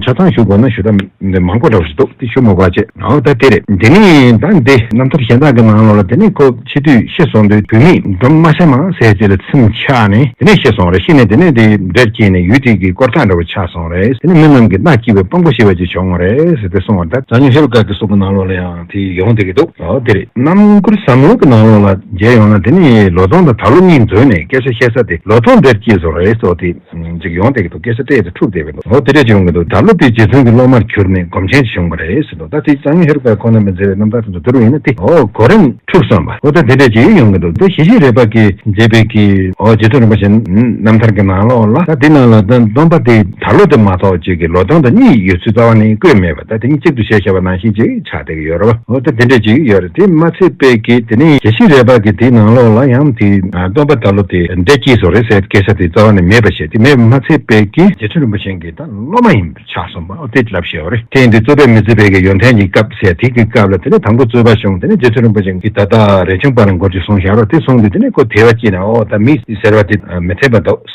ཆ་ཚང་ཞུ་དགོས་ན་ཞུ་དག་འདི་མང་པོ་འདྲ་བ་ཞིག་འདུག་དེ་ཞུ་མི་དགོས་ཅེས་ཨོ་ད་དེ་རེད་དེ་ནས་ད་འདི་རྣམ་ཐར་གཞན་དག་གི་ནང་ལོགས་ལ་དེ་ནས་ཁོ་ཕྱི་དུས་ཤི་སོང་དུས་བུད་མེད་སྒྲོམ་དམར་ཤ་མང་ཟས་བརྗེས་ལ་ཚིམ་ཆགས་ནས་དེ་ནས་ཤི་སོང་རེད་ཤི་ནས་དེ་ནས་དེ་འདྲེར་སྐྱེས་ནས་ཡུལ་དུས་ཀྱི་སྐོར་ཐག་འདྲ་བོ་ཆགས་སོང་རེད་དེ་ནས་མི་རྣམས་ཀྱི་རྟགས་སྐྱིད་པའི་དཔང་པོ་ཤི་བ་ཅིག་བྱུང་ངོ་རེད་དེ་གསུང་བ་ལྟར། འཛམ་གླིང་ཧེ་རུ་ཀ་གི་གསུང་གི་ནང་ལོགས་ལ་ཡང་དེ་ཡོང་སྡོད་ཀྱི་འདུག་ཨོ་དེ་རེད་རྣམ་མགུར་ཟབ་མོ་གི་ནང་ལོགས་ལ་མཇལ་ཡོང་ན་དེ་ནས་ལོ་སྟོང་དང་ད་ལོ་གཉིས་འཛོལ་ནས་སྐད་ཆ་བཤད་ས་དེ་ལོ་སྟོང་འདྲེར་སྐྱེས་སོང་རེད་ཨོ་དེ། འཇིགས་ཡོང་སྟེ་གི་འདུག་སྐད་ཆ་སྤྲད་དེ་འཁྲུག་བསྡད་པའི་འདུག་ལོ་དེ་འདྲས་ཀྱི་ཡོང་གི་འདུག་དགྲ་བླུ་བའི་རྗེ་བཙུན་གྱི་སློབ་མར་གྱུར་ནས་སྒོམ་ཆེན་ཞིག་བྱུང་བ་རེད་ཟེར་འདུག་ད་དེ་གཙང་ཧེ་རུ་ཀ་ཁོ་ན་མི་མཛེས་པའི་རྣམ་ཐར་དེ་ཚོ་བསྡུར་བ་ཡིན་ན་དེ་འོ་གོ་རེད། འཁྲུག་སོང་བ་ལོ་ད་དེ་འདྲས་ཀྱི་ཡོང་གི་འདུག་དེ་ཞི་ཞི་རེད་པ་གི་མཛེས་པའི་གི་འོ་རྗེ་བཙུན་རིན་པོ་ཆེ་རྣམ་ཐར་གྱི་ནང་ལོག་ལ་ད་དེ་ནང་ལ་ད་སྡོམ་པ་དེ་དར་ལོ་དེ་མ་གཏོགས་གཅིག་གི་ལོ་སྟོང་དང་གཉིས་ཡོད་ཚུལ་རྩ་བ་ནས་བཀོད་མེད་པ་ད་དེ་གཉིས་གཅིག་ཏུ་བྱས་བྱས་པ་ནང་བཞིན་ཅིག་ཆགས་ཡོད་རེད་བ། འོ་ད་དེ་འདྲ་ཅིག་ཡོད་རེད་དེ་མ་ཚད་དཔེ་གི་དེ་ནས་གལ་སྲིད་རེད་བ་གི་དེ་ནང་ལོགས་ལ་ཡང་དེ་སྟོན་པ་ད་ལོ་དེ་འདྲ་སྐྱིད་སོ་རེད་ཟེར་སྐད་ཆ་དེ་རྩ་བ་ནས་མེད་པ་བཤད་དེ་མེད་པ་མ་ཚད་དཔེ་གི། རྗེ་བཙུན་རིན་པོ་ཆེན་གྱི་ད་སློབ་མ་ཡིན་པ་ཆགས་སོང་བ་འོ་དེ་ལབ་བཤད་བ་རེད་ཐེངས་འདི་རྩོད་པའི་མི་རྩོད་པའི་གི་ཡོན་ཐན་གྱི་སྐབས་ཟེར་དེ་གི་སྐབས་ལ་དེ་ནས་དང་པོ་རྩོད་པ་བྱུང་དེ་ནས་རྗེ་བཙུན་རིན་པོ་ཆེན་གྱི་ད་ད་རེ་ཆུང་པ་ལ་འགོར་རྒྱུ་གསུང་བཞག་རོགས་དེ་གསུང་དུས་དེ་ནས་ཁོ་དེ་བ་སྐྱིད་ན་འོ་ད་མི་ཟེར་བ་དེ་མི་འཐད་པ་འདུག།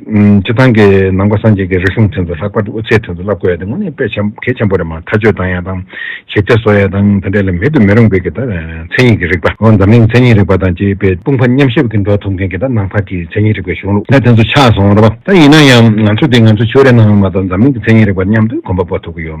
སྤྱི་བཏང་གི་ནང་པ་སངས་རྒྱས་ཀྱི་རིགས་གསུམ་དོན་དུ་ལྷག་པར་དུ་དབུ་ཚད་དོན་དུ་བསླབ་དགོས་ཡ་དེ་དངོས་གནས་དཔེ་གལ་ཆེན་པོ་རེད་མ་མཐའ་དཔྱོད་དང་ཡ་དང་ཞིབ་ཆ་བཟོ་ཡ་དང་དེ་འདྲས་ལ་མེད་དུ་མི་རུང་བའི་གི་ད་མཚན་ཉིད་ཀྱི་རིགས་པ་འོ་འཛམ་གླིང་མཚན་ཉིད་རིགས་པ་དང་བཅས་པའི་དཔུང་ཕ་མཉམ་གཤིབ་ཀྱི་འགྲོ་ཐུབ་མཁན་གི་ད་ནང་པ་དེའི་མཚན་ཉིད་རིགས་པའི་གཞུང་ལུགས་ད་དོན་དུ་ཆགས་སོང་རེད་པ་ད་ཡིན་ན་ཡང་ང་ཚོ་དེ་ང་ཚོ་ཆོས་རའི་ནང་ཡོང་མ་གཏོགས་འཛམ་གླིང་གི་མཚན་ཉིད་རིགས་པ་མཉམ་དུ་གོམ་པ་སྤོ་ཐུབ་ཀྱི་ཡོད།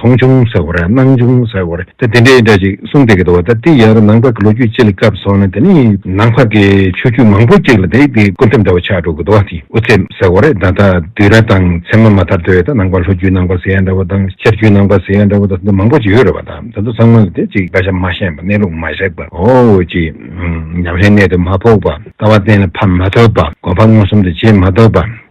མཐོང་བྱུང་ཟེར་བར་སྣང་བྱུང་ཟེར་བར་ད་དེ་འདྲའི་འདྲ་ཅིག་གསུངས་བསྡད་ཀྱི་འདུག་བ་ད་ལྟའི་ཡར་ནང་བར་གྱི་ལོ་རྒྱུས་སྤྱི་ལ་བཀབ་སོང་ན་དེ་ནི་ནང་བར་གྱི་ཆོས་བརྒྱུད་མང་པོ་ཅིག་ལ་དེ་དེའི་སྐུ་ཁྲིམས་འདྲ་བ་ཆགས་འགྲོ་གི་འདུག་བ་དེ་དབུ་ཚད་ཟེར་བར་ད་ལྟ་དུས་ར་དང་མཚན་མ་མ་ཐར་དུས་ད་ནང་བར་ལྷོ་རྒྱུད་ནང་བར་ཟེར་ཡ་འདྲ་བ་དང་ཤར་རྒྱུད་ནང་བར་ཟེར་ཡ་འདྲ་བ་ད་དུང་མང་པོ་ཅིག་ཡོད་རེད་བ་ད་ད་དུང་ཚང་མ་ལ་དེ་ཅིག་བཀའ་ཤག་མ་ཤེས་པ་གནས་ལུགས་མ་བཞག་པ་འོ་ཅི། ཉམས་ལེན་གནད་དུ་མ་ཕོག་པ་ལྟ་བ་གཏན་ལ་ཕབ་མ་ཐུབ་པ་གོ་འཕང་མངོན་སུམ་དུ་བྱེད་མ་ཐུབ་པ།